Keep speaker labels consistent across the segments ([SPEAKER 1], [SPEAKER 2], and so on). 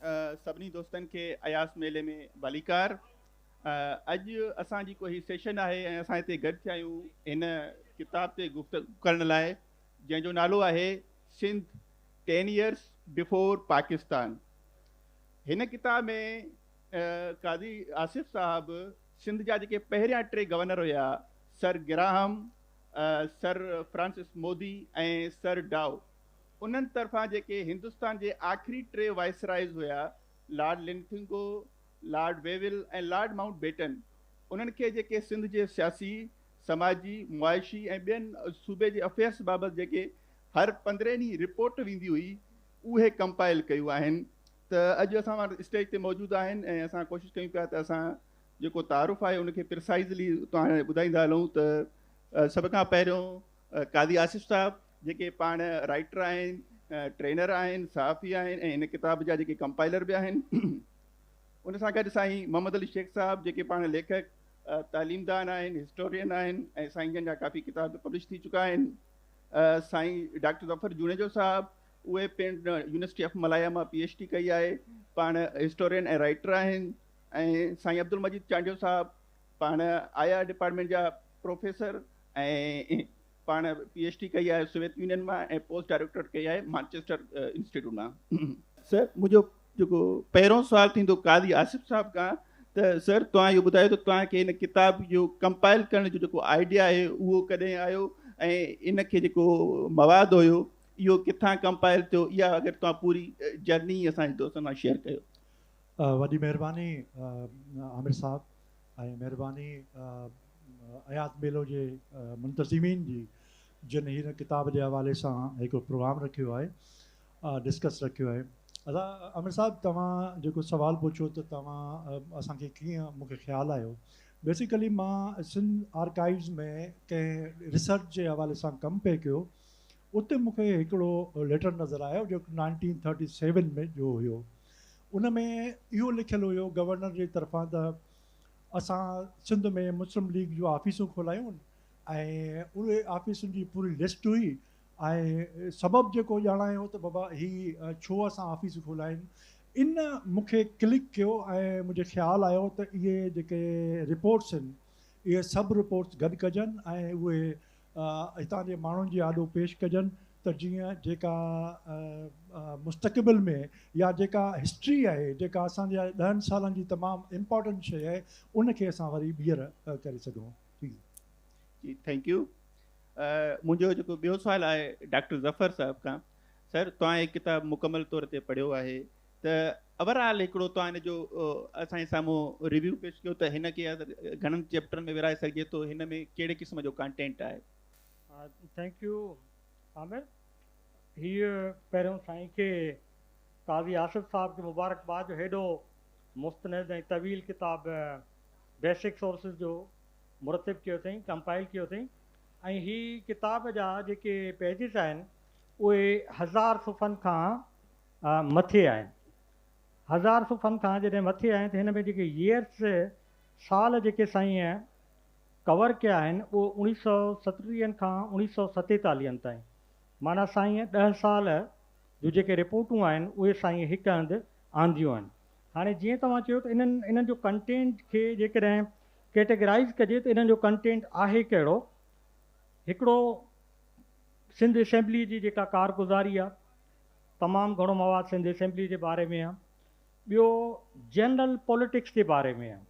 [SPEAKER 1] سڀني دوستن کي اياز ميلي ۾ ڀليڪار. اڄ اسان جي ڪو هي سيشن آهي ۽ اسان هتي گڏ ٿيا آهيون هن ڪتاب تي گفتگو ڪرڻ لاء جنهن جو نالو آهي Sindh ten years before Pakistan. هن ڪتاب ۾ قاضي آصف صاحب سنڌ جا جيڪي پهريان ٽي گورنر هيا سر گراهم، سر فرانسس مودي ۽ سر ڊائو انهن طرفان جيڪي هندستان جي آخري ٽي وائسرائيز هيا، Lord Linlithgow, lord Wavell ۽ lord Mountbatten, انهن کي جيڪي سنڌ جي سياسي، سماجي، معاشي ۽ ٻين صوبي جي افيئرس بابت جيڪي هر پندرهين ڏينهن رپورٽ ويندي هئي، اهي ڪمپائل ڪيون آهن ته اڄ اسان وٽ اسٽيج تي موجود آهن ۽ اسان ڪوشش ڪيون پيا ته اسان جيڪو تعارف آهي ان کي پرسائزلي توهان ٻڌائيندا هلون ته سڀ کان پهريون قاضي آصف صاحب، جيڪي پاڻ رائٽر آهن، ٽرينر آهن، صحافي آهن ۽ هن ڪتاب جا جيڪي ڪمپائلر به آهن. ان سان گڏ سائين محمد علي شيخ صاحب جيڪي پاڻ ليکڪ، تعليم دان آهن، هسٽورين آهن ۽ سائين جن جا ڪافي ڪتاب به پبلش ٿي چڪا آهن. سائين ڊاڪٽر ظفر جوڻيجو صاحب اهي پڻ يونيورسٽي آف ملايا مان پي ايڇ ڊي ڪئي آهي، پاڻ هسٽورين ۽ رائٽر آهن ۽ سائين عبدالمجيد چانڊيو صاحب پاڻ آء آر ڊپارٽمينٽ جا پروفيسر ۽ پاڻ پي ايڇ ڊي ڪئي آهي سوويت يونين مان ۽ پوسٽ ڊائريڪٽوريٽ ڪئي آهي مانچيسٽر انسٽيٽيوٽ مان. سر منهنجو جيڪو پهريون سوال ٿيندو قاضي آصف صاحب کان ته سر توهان اهو ٻڌايو ته توهان کي هن ڪتاب جو ڪمپائل ڪرڻ جو جيڪو آئيڊيا آهي اهو ڪڏهن آيو ۽ ان کي جيڪو مواد هيو اهو ڪٿان ڪمپائل ٿيو اها اگر توهان پوري جرني هي اسان جي دوستن سان شيئر ڪيو. وڏي مهرباني
[SPEAKER 2] عامر صاحب ۽ مهرباني اياز ميلو جي منتظمين جي جن هن ڪتاب جي حوالي سان هڪ پروگرام رکيو آهي ڊسڪس رکيو آهي ادا عامر صاحب توهان جيڪو سوال پڇيو ته توهان اسان کي ڪيئن مون کي خيال آيو بيسيڪلي مان سنڌ آرڪائيوز ۾ ڪنهن ريسرچ جي حوالي سان ڪم پئي ڪيو اتي مون کي هڪڙو ليٽر نظر آيو جو نائنٽين ٿرٽي سيون ۾ جو هيو ان ۾ اهو لکيل هيو گورنر جي طرفان ته اسان سنڌ ۾ مسلم ليگ جون آفيسون کولايون ۽ اهي آفيسن جي پوري لسٽ هئي ۽ سبب جيڪو ڄاڻايو هو ته بابا هي ڇو اسان آفيس کولايون ان مون کي ڪلڪ ڪيو ۽ منهنجي خيال آيو ته اهي جيڪي رپورٽس آهن اهي سڀ رپورٽس گڏ ڪجن ۽ اهي هتان جي ماڻهن جي آڏو پيش ڪجن ته جيئن جيڪا مستقبل ۾ يا جيڪا هسٽري آهي جيڪا اسان جي ڏهن سالن جي تمام امپارٽنٽ شيء آهي ان کي اسان وري ٻيهر ڪري سگهون ٿي.
[SPEAKER 1] جي ٿينڪ يو منهنجو جيڪو ٻيو سوال آهي ڊاڪٽر ظفر صاحب کان سر توهان هي ڪتاب مڪمل طور تي پڙهيو آهي ته اوور آل هڪڙو توهان هن جو اسان جي سامهون ريويو پيش ڪيو ته هن کي گهڻن چيپٽرن ۾ ورهائي سگهجي ٿو هن ۾ ڪهڙي قسم جو ڪانٽينٽ آهي. ٿينڪ
[SPEAKER 3] يو عامر هي پهريون سائين کي قاضي آصف صاحب کي مبارڪ باد جو هيڏو مستند ۽ طويل ڪتاب بيسڪ سورسز جو مرتب ڪيو اٿئين ڪمپائل ڪيو اٿئين ۽ هي ڪتاب جا جيڪي پيجز آهن اهي هزار صفحن کان آء مٿي آيم. هزار صفحن کان جڏهن مٿي آيم ته هن ۾ جيڪي Years، سال، جيڪي سائين ڪور ڪيا آهن اهي اوڻيهه سؤ ستٽيهن کان اوڻيهه سؤ ستيتاليهن تائين معنيٰ سائين ڏهه سال جون جيڪي رپورٽون آهن اهي سائين هڪ هنڌ آنديون آهن. هاڻي جيئن توهان چيو ته انهن انهن جو ڪنٽينٽ کي جيڪڏهن ڪيٽيگرائيز ڪجي ته انهن جو ڪنٽينٽ آهي ڪهڙو؟ هڪڙو سنڌ اسيمبليء جي جيڪا ڪارگذاري آهي. تمام گهڻو مواد سنڌ اسيمبلي جي باري ۾ آهي. ٻيو جنرل پوليٽڪس جي باري ۾ آهي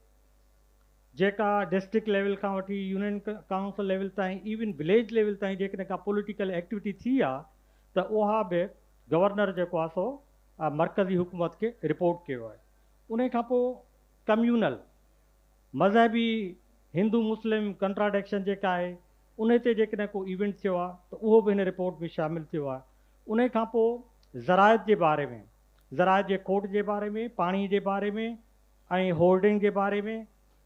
[SPEAKER 3] جيڪا ڊسٽرڪٽ ليول کان وٺي يونين ڪائونسل ليول تائين ايون وليج ليول تائين جيڪڏهن ڪا پوليٽيڪل ايڪٽيوٽي ٿي آ ته اها به گورنر جيڪو آهي سو مرڪزي حڪومت کي رپورٽ ڪيو آهي. انهي کان پوء ڪميونل مذهبي هندو مسلم ڪنٽراڊڪشن جيڪا آهي انهي تي جيڪڏهن ڪو ايونٽ ٿيو آ ته اهو به هن رپورٽ ۾ شامل ٿيو آهي. انهي کان پوء زراعت جي باري ۾، زراعت جي کوٽ جي باري ۾، پاڻي جي باري ۾ ۽ هولڊنگ جي باري ۾،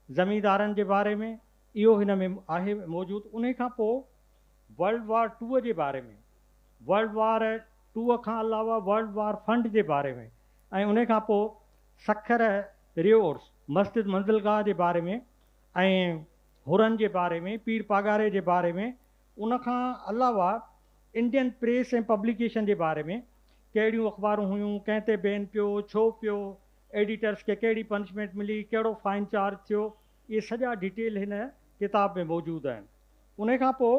[SPEAKER 3] زميندارن جي باري ۾ اهو هن ۾ آهي موجود. انهي کان پوء ورلڊ وار ٽوء جي باري ۾، ورلڊ وار ٽوء کان علاوه ورلڊ وار فنڊ جي باري ۾ ۽ انهي کان پوء سکر ريورس، مسجد منزلگاهه جي باري ۾ ۽ حرن جي باري ۾، پير پاڳاري جي باري ۾ ان کان علاوه انڊين پريس ۽ پبليڪيشن جي باري ۾، ڪهڙيون اخبارون هيون، ڪنهن تي بين پيو، ڇو پيو، ايڊيٽرس کي ڪهڙي پنشمينٽ ملي، ڪهڙو فائن چارج ٿيو، اهي سڄا ڊيٽيل هن ڪتاب ۾ موجود آهن. انهي کان پوء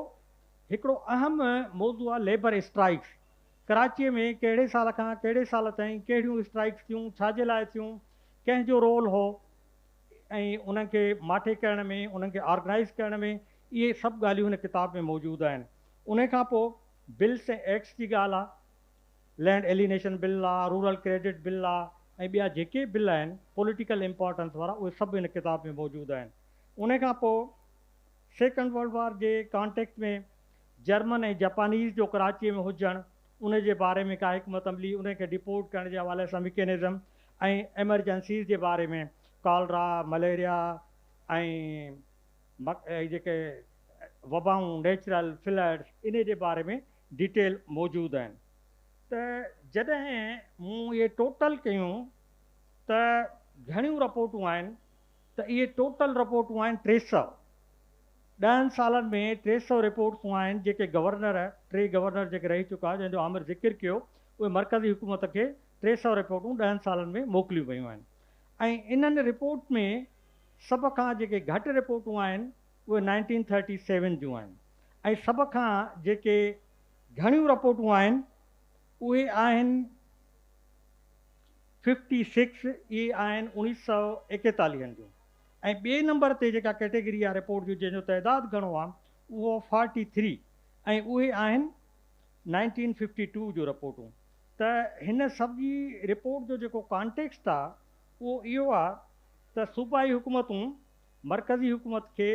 [SPEAKER 3] هڪڙو اهم موضوع آهي ليبر اسٽرائيڪس. ڪراچيء ۾ ڪهڙي سال کان ڪهڙي سال تائين ڪهڙيون اسٽرائيڪس ٿيون، ڇا جي لاء ٿيون، ڪنهن جو رول هو ۽ انهن کي ماٺي ڪرڻ ۾، انهن کي آرگنائيز ڪرڻ ۾ اهي سڀ ڳالهيون هن ڪتاب ۾ موجود آهن. انهيء کان پوء بلس ۽ ايڪٽس جي ڳالهه آ. لينڊ ايلينيشن بل آ، رورل ڪريڊٽ بل آ ۽ ٻيا جيڪي بل آهن پوليٽيڪل امپارٽنس وارا اهي سڀ هن ڪتاب ۾ موجود آهن. انهيء کان پوء سيڪنڊ ورلڊ وار جي ڪانٽيڪس ۾ جرمن ۽ جپانيز جو ڪراچيء ۾ هجڻ، انهيء جي باري ۾ ڪا حڪمت عملي، انهيء کي ڊپورٽ ڪرڻ جي حوالي سان مڪينزم ۽ ايمرجنسيز جي باري ۾ ڪالرا، مليريا ۽ هي جيڪي وبائون نيچرل فلڊس انهي جي باري ۾ ڊيٽيل موجود آهن ته جڏهن مون اهي ٽوٽل ڪيون ته گهڻيون رپورٽون آهن ته اهي ٽوٽل رپورٽون آهن ٽي سؤ ڏهن سالن ۾ ٽي سؤ رپورٽون آهن جيڪي گورنر ٽي گورنر جيڪي رهي چڪا جنهن جو عامر ذڪر ڪيو اهي مرڪزي حڪومت کي ٽي سؤ رپورٽون ڏهن سالن ۾ موڪليون ويون آهن ۽ انهن رپورٽ ۾ سڀ کان جيڪي گهٽ رپورٽون آهن اهي نائنٽين ٿرٽي سيون جون آهن ۽ سڀ کان جيڪي گهڻيون رپورٽون آهن اهي آهن ففٽي سڪس اهي آهن اوڻيھ سئو ايڪيتاليهن جون ۽ ٻئي نمبر تي جيڪا ڪيٽيگري آهي رپورٽ جون جنهن جو تعداد گهڻو آهي اهو فارٽي ٿري ۽ اهي آهن نائنٽين ففٽي ٽو جون رپورٽون ته هن سڀ جي رپورٽ جو جيڪو ڪانٽيڪسٽ آهي اهو اهو آ ته صوبائي حڪومتون مرڪزي حڪومت کي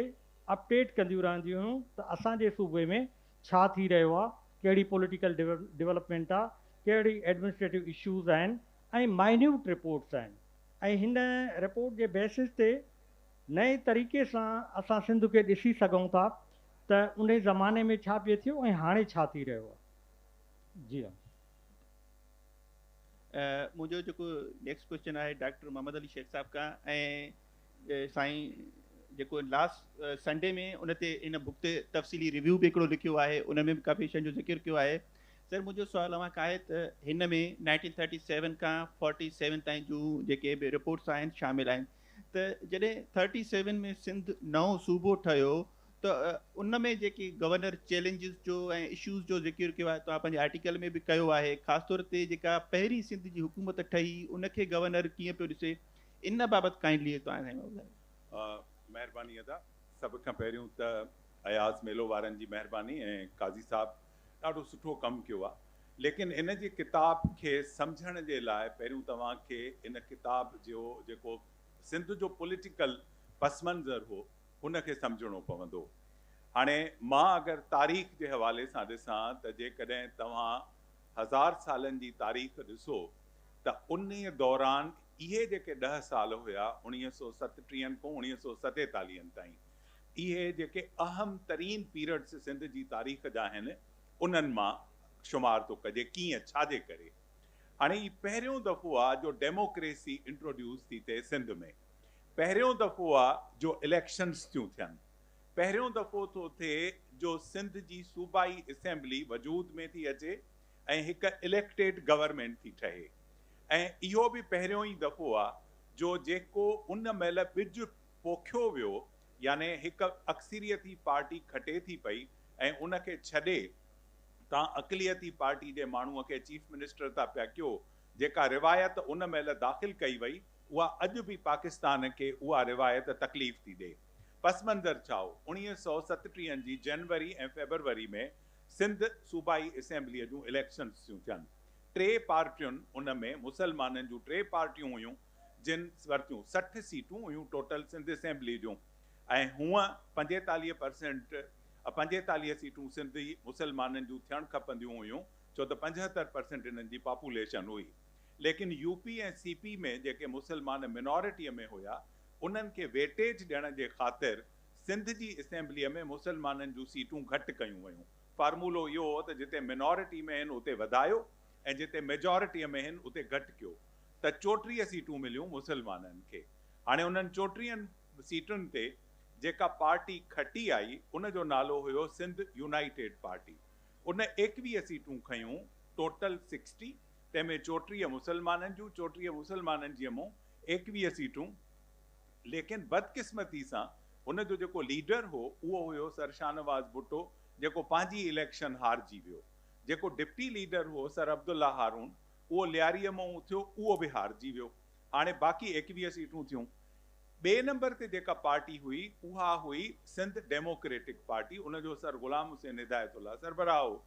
[SPEAKER 3] اپ ڊيٽ ڪنديون رهنديون هيون ته اسان جي صوبي ۾ ڇا ٿي رهيو آ، ڪهڙي پوليٽيڪل ڊولپمينٽ آ، ڪهڙي ايڊمنسٽريٽو اشوز آهن ۽ مائنيوٽ رپورٽس آهن ۽ هن رپورٽ جي بيسز تي نئين طريقي سان اسان سنڌ کي ڏسي سگهون ٿا ته انهي زماني ۾ ڇا پئي ٿيو ۽ هاڻي ڇا ٿي رهيو آ. جي ها.
[SPEAKER 1] منهنجو جيڪو نيڪسٽ ڪويشچن آهي ڊاڪٽر محمد علي شيخ صاحب کان ۽ سائين جيڪو لاسٽ سنڊي ۾ ان تي ان بک تي تفصيلي ريويو به هڪڙو لکيو آهي ان ۾ به ڪافي شين جو ذڪر کيو آهي سر منهنجو سوال اوهان کان آهي ته هن ۾ 1937 کان 47 تائين جو جيڪي به رپورٽس آهن شامل آهن ته جڏهن 37 ۾ سنڌ نئون صوبو ٺهيو ته ان ۾ جيڪي گورنر چئلينجز جو ۽ اشوز جو ذڪر ڪيو آهي توهان پنهنجي آرٽيڪل ۾ به ڪيو آهي خاص طور تي جيڪا پهرين سنڌ جي حڪومت ٺهي ان کي گورنر ڪيئن پيو ڏسي ان بابت ڪائنڊلي توهان سان ٻڌايو. مهرباني ادا
[SPEAKER 4] سڀ کان پهريون ته اياز ميلو وارن جي مهرباني ۽ قاضي صاحب ڏاڍو سٺو ڪم ڪيو آهي ليڪن هن جي ڪتاب کي سمجهڻ جي لاء پهريون توهان کي ان ڪتاب جو جيڪو سنڌ جو پوليٽيڪل پس منظر هو ان کي سمجهڻو پوندو. هاڻي مان اگر تاريخ جي حوالي سان ڏسان ته جيڪڏهن توهان هزار سالن جي تاريخ ڏسو ته انهي دوران اهي جيڪي ڏهه سال هيا اڻيهه سؤ ستٽيهن کون اڻيهه سؤ ستيتاليهن تائين اهي جيڪي اهم ترين پيرڊس سنڌ جي تاريخ جا آهن انهن مان شمار ٿو ڪجي ڪيئن ڇاجي ڪري هاڻي هي پهريون دفعو آ جو ڊيموڪريسي انٽروڊيوس ٿي ٿئي سنڌ ۾. پهريون دفعو آ جو اليڪشنز ٿيون ٿين، پهريون دفعو ٿو ٿئي جو سنڌ جي صوبائي اسيمبلي وجود ۾ ٿي اچي ۽ هڪ اليڪٽيڊ گورنمينٽ ٿي ٺهي ۽ اهو به پهريون ئي دفعو آ جو جيڪو ان مهل ٻج پوکيو ويو يعني هڪ اڪثريتي پارٽي کٽي ٿي پئي ۽ ان کي ڇڏي تان اقليتي پارٽي جي ماڻهو کي چيف منسٽر ٿا پيا ڪيو جيڪا روايت ان مهل داخل ڪئي وئي اها اڄ به پاڪستان کي اها روايت تڪليف ٿي ڏئي. پس منظر ڇا هو؟ اوڻيهه سؤ ستٽيهن جي جنوري ۽ فيبروري ۾ سنڌ صوبائي اسيمبليء جون اليڪشنز ٿيون ٿين. ٽي پارٽيون ان ۾ مسلمانن جون ٽي پارٽيون هيون جن ورتيون سٺ سيٽون هيون ٽوٽل سنڌ اسيمبليء جون ۽ هونء پنجيتاليهه پرسينٽ پنجيتاليهه سيٽون سنڌي مسلمانن جون ٿيڻ کپنديون هيون ڇو ته پنجهتر پرسينٽ انهن جي پاپوليشن هئي. ليڪن يو پي ۽ سي پي ۾ جيڪي مسلمان منارٽيء ۾ هيا، انهن کي ويٽيج ڏيڻ جي خاطر سنڌ جي اسيمبليء ۾ مسلمانن جون سيٽون گهٽ ڪيون ويون. فارمولو اهو هو ته جتي منارٽي ۾ هن اتي وڌايو ۽ جتي ميجارٽيء ۾ هن اتي گهٽ ڪيو ته چوٽيهه سيٽون مليون مسلمانن کي. هاڻي انهن چوٽيهن سيٽن تي جيڪا پارٽي کٽي آئي، ان جو نالو هيو سنڌ يونائيٽيڊ پارٽي. ان ايڪويهه سيٽون کنيون، ٽوٽل سڪسٽي. تنهن ۾ چوٽيهه مسلمانن جون چوٽيهه مسلمانن جي مون ايڪويهه سيٽون ليڪن بدقسمتي سان هن جو جيڪو ليڊر هو اهو هيو سر شاهنواز ڀٽو جيڪو پنهنجي اليڪشن هارجي ويو جيڪو ڊپٽي ليڊر هو سر عبدالله هارون اهو لياريء مون اٿيو اهو به هارجي ويو هاڻي باقي ايڪويهه سيٽون ٿيون ٻئي نمبر تي جيڪا پارٽي هئي اها هئي سنڌ ڊيموڪريٽڪ پارٽي ان جو سر غلام حسين هدايت الله سربراهه هو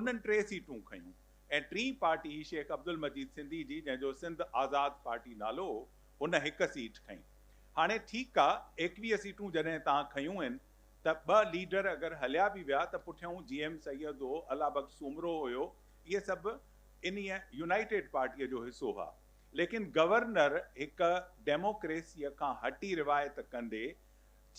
[SPEAKER 4] انهن ٽي سيٽون کنيون ۽ ٽين پارٽي هئي شيخ عبدالمجيد سنڌي جي جنهن جو سنڌ آزاد پارٽي نالو هو هن هڪ سيٽ کنئي هاڻي ٺيڪ آ ايڪويهه سيٽون جڏهن تان کنيون هين ته ٻه ليڊر اگر هليا به ويا ته پٺيون جي ايم سيد هو الله بخش سومرو هيو اهي سڀ انهي يونائيٽيڊ پارٽي جو حصو هئا ليڪن گورنر هڪ ڊيموڪريسي کان هٽي روايت ڪندي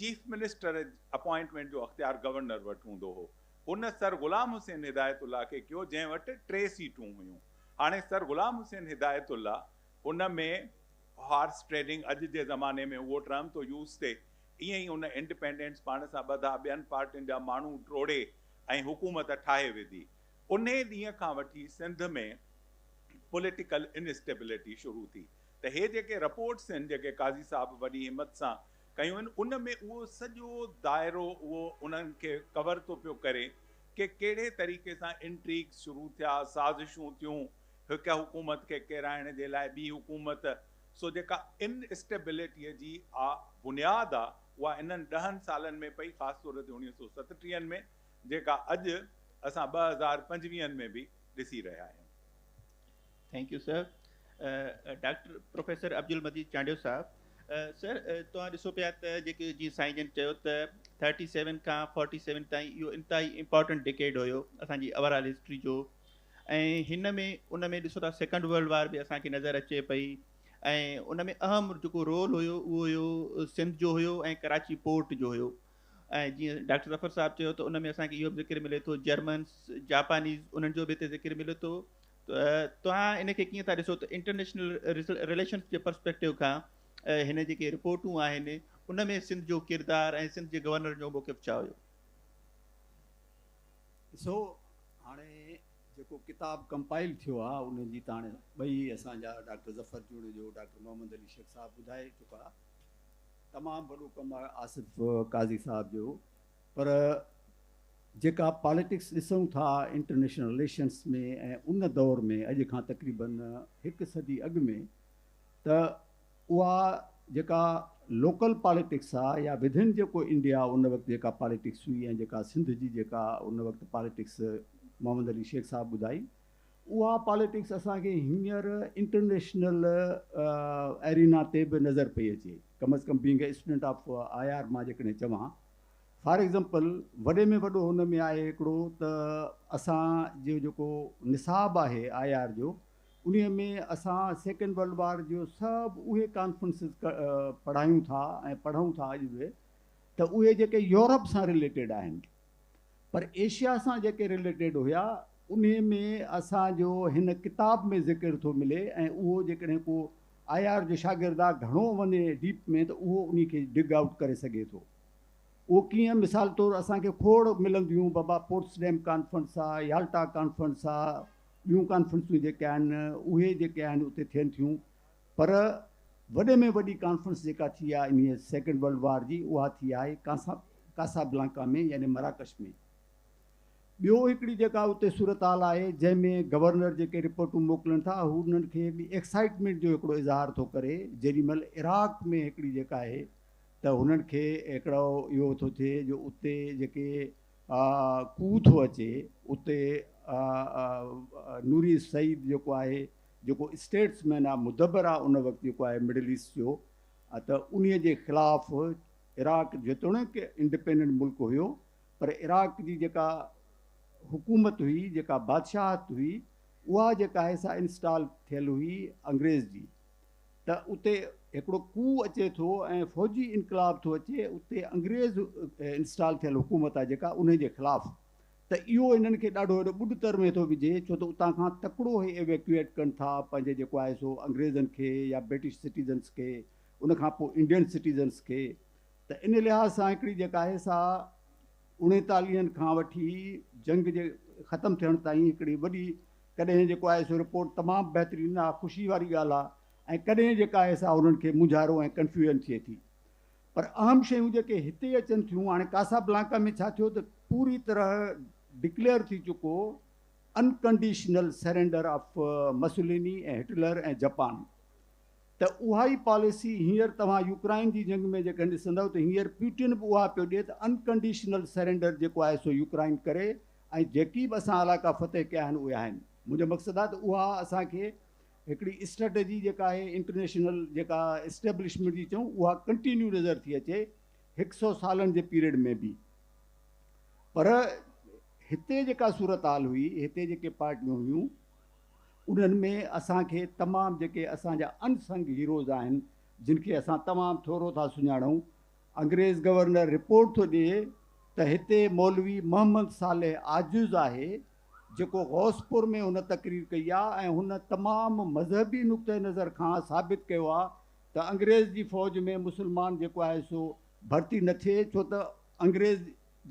[SPEAKER 4] چيف منسٽر اپوائنٽمينٽ جو اختيار گورنر وٽ هوندو هو هن سر غلام حسين هدايت الله کي ڪيو جنهن وٽ ٽي سيٽون هيون. هاڻي سر غلام حسين هدايت الله ان ۾ هارس ٽريڊنگ اڄ جي زماني ۾ اهو ٽرم ٿو يوز ٿئي ائين ئي ان انڊپينڊنٽس پاڻ سان ٻڌا ٻين پارٽين جا ماڻهو ٽوڙي ۽ حڪومت ٺاهي وڌي. انهي ڏينهن کان وٺي سنڌ ۾ پوليٽيڪل انسٽيبلٽي شروع ٿي ته هي جيڪي رپورٽس آهن جيڪي قاضي صاحب وڏي همت سان ڪيون آهن ان ۾ اهو سڄو دائرو اهو انهن کي ڪور ٿو پيو ڪري ڪي ڪهڙي طريقي سان انٽريگز شروع ٿيا سازشون ٿيون هڪ حڪومت کي ڪيرائڻ جي لاء ٻي حڪومت سو جيڪا ان اسٽيبلٽيء جي آ بنياد آ اها انهن ڏهن سالن ۾ پئي خاص طور تي اوڻيهه سو ستٽيهن ۾ جيڪا اڄ اسان ٻه هزار پنجويهن ۾ به ڏسي رهيا آهيون. Thank
[SPEAKER 1] you sir. Doctor professor Abdul Majeed Chandio sahib sir توهان ڏسو پيا ته جيڪي جيئن سائين جن چيو ته ٿرٽي سيون کان فورٽي سيون تائين اهو انتهائي امپارٽنٽ ڊڪيڊ هيو اسان جي اوور آل هسٽري جو ۽ هن ۾ ان ۾ ڏسو ٿا سيڪنڊ ورلڊ وار به اسان کي نظر اچي پئي ۽ ان ۾ اهم جيڪو رول هيو اهو هيو سنڌ جو هيو ۽ ڪراچي پورٽ جو هيو ۽ جيئن ڊاڪٽر ظفر صاحب چيو ته ان ۾ اسان کي اهو به ذڪر ملي ٿو جرمنس جاپانيز انهن جو به هتي ذڪر ملي ٿو توهان ان کي ڪيئن ٿا ڏسو ته انٽرنيشنل رليشنز جي پرسپيڪٽو کان هن جيڪي رپورٽون آهن ان ۾ سنڌ جو ڪردار ۽ سنڌ جي گورنر جو موقف ڇا هيو؟
[SPEAKER 5] ڏسو هاڻي جيڪو ڪتاب ڪمپائل ٿيو آهي ان جي ته هاڻي ٻئي اسان جا ڊاڪٽر ظفر جوڻيجو ڊاڪٽر محمد علي شيخ صاحب ٻڌائي چڪا تمام وڏو ڪم آهي آصف قاضي صاحب جو پر جيڪا پاليٽڪس ڏسون ٿا انٽرنيشنل رليشنس ۾ ۽ ان دور ۾ اڄ کان تقريبن هڪ صدي اڳ ۾ ته اها جيڪا لوڪل پاليٽڪس آ يا وڌن جيڪو انڊيا ان وقت جيڪا پاليٽڪس هئي ۽ جيڪا سنڌ جي جيڪا ان وقت پاليٽڪس محمد علي شيخ صاحب ٻڌائي اها پاليٽڪس اسان کي هينئر انٽرنيشنل ارينا تي به نظر پئي اچي ڪم از ڪم being a student of I R مان جيڪڏهن چوان فار ايگزامپل وڏي ۾ وڏو هن ۾ آهي هڪڙو ته اسان جو جيڪو نصاب آهي آء آر جو انهي ۾ اسان سيڪنڊ ورلڊ وار جو سڀ اهي ڪانفرنسز پڙهايون ٿا ۽ پڙهون ٿا اڄ به ته اهي جيڪي يورپ سان رليٽيڊ آهن پر ايشيا سان جيڪي رليٽيڊ هيا انهي ۾ اسان جو هن ڪتاب ۾ ذڪر ٿو ملي ۽ اهو جيڪڏهن ڪو آء آر جو شاگرد آء گهڻو وڃي ڊيپ ۾ ته اهو انهي کي ڊگ آئوٽ ڪري سگهي ٿو اهو ڪيئن مثال طور اسان کي کوڙ ملنديون بابا پوٽسڊيم ڪانفرنس آء يالٽا ڪانفرنس آء ٻيون ڪانفرنسون جيڪي آهن اهي جيڪي آهن اتي ٿين ٿيون پر وڏي ۾ وڏي ڪانفرنس جيڪا ٿي آء انهي سيڪنڊ ورلڊ وار جي اها ٿي آهي ڪاسابلانڪا ۾ يعني مراڪش ۾ ٻيو هڪڙي جيڪا اتي صورتحال آهي جنهن ۾ گورنر جيڪي رپورٽون موڪلن ٿا هو انهن کي هڪڙي ايڪسائيٽمينٽ جو هڪڙو اظهار ٿو ڪري جيڏي مهل عراق ۾ هڪڙي جيڪا آهي ته هنن کي هڪڙو اهو ٿو ٿئي جو اتي جيڪي ڪوء ٿو اچي اتي نوري سعيد جيڪو آهي جيڪو اسٽيٽس مين آهي مدبر آهي ان وقت جيڪو آهي مڊل ايسٽ جو ته انهي جي خلاف عراق جيتوڻيڪ انڊپينڊنٽ ملڪ هيو پر عراق جي جيڪا حڪومت هئي، جيڪا بادشاهت هئي، اها جيڪا آهي سا انسٽال ٿيل هئي انگريز جي. ته اتي هڪڙو ڪوء اچي ٿو ۽ فوجي انقلاب ٿو اچي، اتي انگريز انسٽال ٿيل حڪومت آهي جيڪا انهي جي خلاف. ته اهو هنن کي ڏاڍو وڏو ٻڏ تر ۾ ٿو وجهي، ڇو ته اتان کان تڪڙو هي Evacuate ڪن ٿا پنهنجي جيڪو آهي سو انگريزن کي يا برٽش سٽيزنس کي، ان کان پوء انڊين سٽيزنس کي. ته ان لحاظ سان هڪڙي جيڪا آهي سا اڻيتاليهن کان وٺي جنگ جي ختم ٿيڻ تائين هڪڙي وڏي ڪڏهن جيڪو آهي سو رپورٽ تمام بهترين آ خوشي واري ڳالهه آ ۽ ڪڏهن جيڪا آهي سا انهن کي مونجهارو ۽ ڪنفيوجن ٿئي ٿي پر اهم شيون جيڪي هتي اچن ٿيون هاڻي ڪاسا بلانڪا ۾ ڇا ٿيو ته پوري طرح ڊڪليئر ٿي چڪو unconditional surrender of Mussolini ۽ Hitler ۽ Japan ته اها ئي پاليسي هينئر توهان يوڪرائن جي جنگ ۾ جيڪڏهن ڏسندؤ ته هينئر پيوٽن به اها پيو ڏئي ته انڪنڊيشنل سرينڊر جيڪو آهي سو يوڪرائن ڪري ۽ جيڪي به اسان علائقا فتح ڪيا آهن اهي آهن منهنجو مقصد آهي ته اها اسان کي هڪڙي اسٽريٽجي جيڪا آهي انٽرنيشنل جيڪا اسٽيبلشمينٽ جي چئون اها ڪنٽينيو نظر ٿي اچي هڪ سئو سالن جي پيريڊ ۾ به پر هتي جيڪا صورتحال هئي هتي جيڪي پارٽيون هيون انهن ۾ اسان کي تمام جيڪي اسان جا ان سنگ هيروز آهن جن کي اسان تمام ٿورو ٿا سڃاڻون. انگريز گورنر رپورٽ ٿو ڏئي ته هتي مولوي محمد صالح عاجز آهي جيڪو غوث پور ۾ هن تقرير ڪئي آ ۽ هن تمام مذهبي نقطه نظر کان ثابت ڪيو آ ته انگريز جي فوج ۾ مسلمان جيڪو آهي سو ڀرتي نه ٿئي ڇو ته انگريز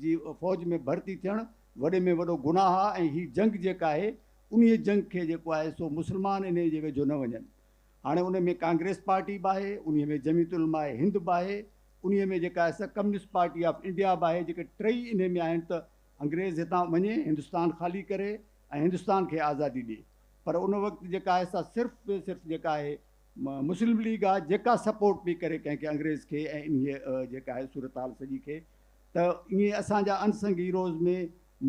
[SPEAKER 5] جي فوج ۾ ڀرتي ٿيڻ وڏي ۾ وڏو گناهه آهي ۽ هي جنگ جيڪا آهي انهي جنگ کي جيڪو آهي سو مسلمان انهي جي ويجهو نه وڃن هاڻي انهي ۾ ڪانگريس پارٽي به آهي انهي ۾ جميعت علماء هند به آهي انهي ۾ جيڪا آهي سا ڪميونسٽ پارٽي آف انڊيا به آهي جيڪي ٽئي انهي ۾ آهن ته انگريز هتان وڃي هندستان خالي ڪري ۽ هندستان کي آزادي ڏي پر ان وقت جيڪا آهي سا صرف ۽ صرف جيڪا آهي مسلم ليگ آهي جيڪا سپورٽ پئي ڪري ڪنهن کي انگريز کي ۽ انهي جيڪا آهي صورتحال سڄي کي ته ائين اسان جا ان سنگ هيروز ۾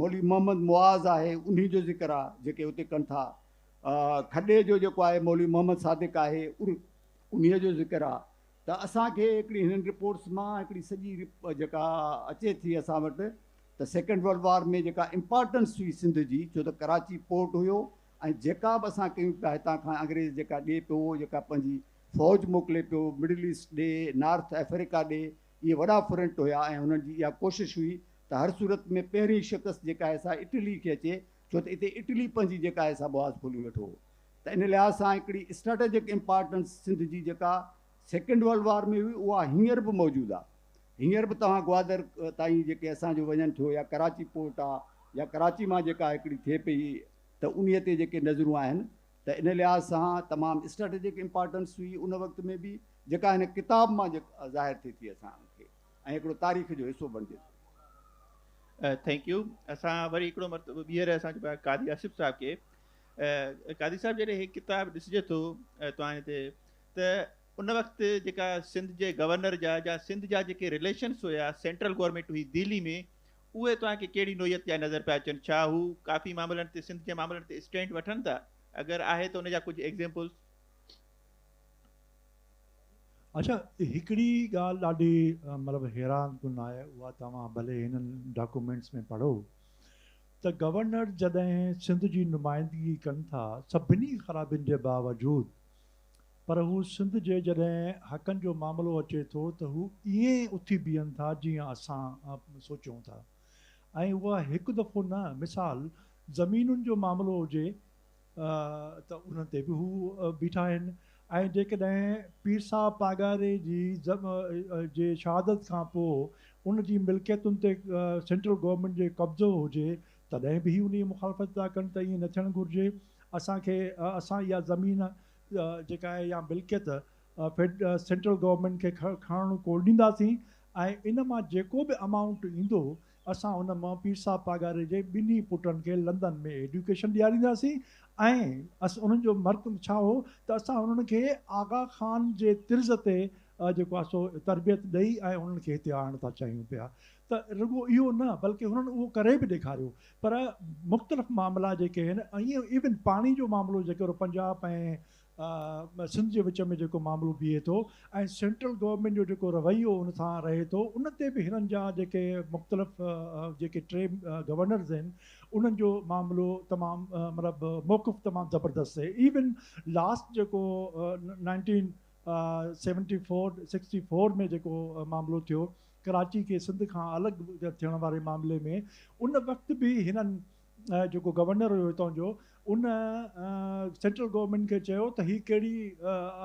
[SPEAKER 5] مولوي محمد معاذ آهي انهي جو ذڪر آ جيڪي اتي ڪن ٿا کڏي جو جيڪو آهي مولوي محمد صادق آهي انهي جو ذڪر آ ته اسان کي هڪڙي هنن رپورٽس مان هڪڙي سڄي جيڪا اچي ٿي اسان وٽ ته سيڪنڊ ورلڊ وار ۾ جيڪا امپارٽنس هئي سنڌ جي ڇو ته ڪراچي پورٽ هيو ۽ جيڪا به اسان ڪيون پيا هتان کان انگريز جيڪا ڏي پيو جيڪا پنهنجي فوج موڪلي پيو مڊل ايسٽ ڏي نارٿ افريڪا ڏي اهي وڏا فرنٽ هيا ۽ هنن جي اها ڪوشش هئي ته هر صورت ۾ پهرين شڪست جيڪا آهي سا اٽلي کي اچي ڇو ته اتي اٽلي پنهنجي جيڪا آهي سا بواز کولي ويٺو هو ته ان لحاظ سان هڪڙي اسٽريٽجڪ امپارٽنس سنڌ جي جيڪا سيڪنڊ ورلڊ وار ۾ هئي اها هينئر به موجود آهي هينئر به توهان گوادر تائين جيڪي اسان جو وڃن ٿيو يا ڪراچي پورٽ آهي يا ڪراچي مان جيڪا هڪڙي ٿئي پئي ته انهي تي جيڪي نظرون آهن ته ان لحاظ سان تمام اسٽريٽجڪ امپارٽنس هئي ان وقت ۾ به جيڪا هن ڪتاب مان ظاهر ٿئي ٿي اسان کي ۽ هڪڙو تاريخ جو حصو بڻجي ٿو.
[SPEAKER 1] ٿينڪ يو اسان وري هڪڙو مرتبو ٻيهر اسان چئبو آهي قاضي آصف صاحب کي قاضي صاحب جڏهن هي ڪتاب ڏسجي ٿو توهان تي ته ان وقت جيڪا سنڌ جي گورنر جا جا سنڌ جا جيڪي رليشنس هيا سينٽرل گورنمينٽ هئي دهلي ۾ اهي توهان کي ڪهڙي نوعيت جا نظر پيا اچن؟ ڇا هو ڪافي معاملن تي سنڌ جي معاملن تي اسٽينڊ وٺن ٿا؟ اگر آهي ته ان جا ڪجهه ايگزيمپلز؟
[SPEAKER 2] اچا هڪڙي ڳالهه ڏاڍي مطلب حيران ڪن آهي اها توهان ڀلي هنن ڊاڪومينٽس ۾ پڙهو ته گورنر جڏهن سنڌ جي نمائندگي ڪن ٿا سڀني خرابين جي باوجود پر هو سنڌ جي جڏهن حقن جو معاملو اچي ٿو ته هو ائين اٿي بيهن ٿا جيئن اسان سوچيون ٿا ۽ اها هڪ دفعو نه مثال زمينن جو معاملو هجي ته ان تي به هو بيٺا آهن ۽ جيڪڏهن پير صاحب پاڳاري جي جي شهادت کان پوء ان جي ملڪيتن تي سينٽرل گورنمينٽ جي قبضو هجي تڏهن به هي انهي مخالفت ٿا ڪن ته ائين نه ٿيڻ گهرجي اسان کي اسان اها زمين جيڪا آهي يا ملڪيت فيڊ سينٽرل گورنمينٽ کي کڻڻ ڪو ڏينداسين ۽ ان مان جيڪو به امائونٽ ايندو اسان ان مان پير صاحب پاڳاري جي ٻنهي پٽن کي لندن ۾ ايڊيوڪيشن ڏيارينداسين ۽ انهن جو مرڪ ڇا هو ته اسان انهن کي آغا خان جي طرز تي جيڪو آهي سو تربيت ڏئي ۽ انهن کي هتي آڻڻ ٿا چاهيون پيا ته رڳو اهو نه بلڪه هنن اهو ڪري به ڏيکاريو پر مختلف معاملا جيڪي هن ائين ايون پاڻي جو معاملو جيڪر پنجاب ۽ سنڌ جي وچ ۾ جيڪو معاملو بيهي ٿو ۽ سينٽرل گورنمينٽ جو جيڪو رويو ان سان رهي ٿو ان تي به هنن جا جيڪي مختلف جيڪي ٽي گورنرز آهن انهن جو معاملو تمام مطلب موقف تمام زبردست آهي ايون لاسٽ جيڪو nineteen seventy four sixty four ۾ جيڪو معاملو ٿيو ڪراچي کي سنڌ کان الڳ ٿيڻ واري معاملي ۾ ان وقت به هنن جيڪو گورنر هيو هتان جو ان سينٽرل گورنمينٽ کي چيو ته هي ڪهڙي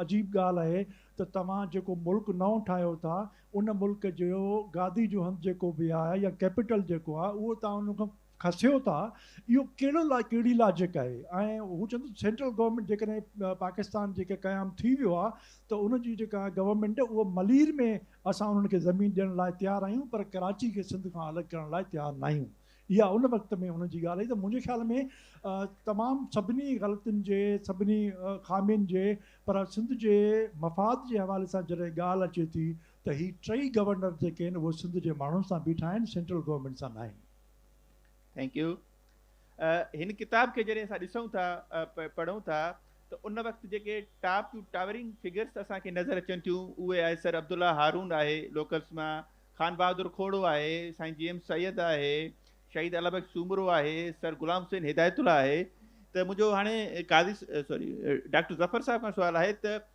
[SPEAKER 2] عجيب ڳالهه آهي ته توهان جيڪو ملڪ نئون ٺاهيو ٿا ان ملڪ جو گادي جو هنڌ جيڪو به آهي يا ڪيپيٽل جيڪو آهي اهو توهان ان کان کسيو ٿا اهو ڪهڙو ڪهڙي لاجڪ آهي ۽ هو چون ٿا سينٽرل گورنمينٽ جيڪڏهن پاڪستان جيڪي قيام ٿي ويو آهي ته ان جي جيڪا گورنمينٽ اهو ملير ۾ اسان انهن کي زمين ڏيڻ لاء تيار آهيون پر ڪراچي کي سنڌ کان الڳ ڪرڻ لاء تيار ناهيون اها ان وقت ۾ انهن جي ڳالهه هئي ته منهنجي خيال ۾ تمام سڀني غلطين جي سڀني خامين جي پر سنڌ جي مفاد جي حوالي سان جڏهن ڳالهه اچي ٿي ته هي ٽئي گورنر جيڪي آهن اهي سنڌ جي ماڻهن سان بيٺا آهن سينٽرل گورنمينٽ سان ناهن Thank
[SPEAKER 1] you. هن ڪتاب کي جڏهن اسان ڏسون ٿا پڙهون ٿا ته ان وقت جيڪي ٽاپ ٽو ٽاورنگ فگرس اسان کي نظر اچن ٿيون اهي آهي سر عبدالله هارون آهي لوڪلس مان خان بهادر کوڙو آهي سائين جي ايم سيد آهي شهيد البخ سومرو آهي سر غلام حسين هدايت الله آهي ته منهنجو هاڻي قاضي سوري ڊاڪٽر ظفر صاحب کان سوال آهي ته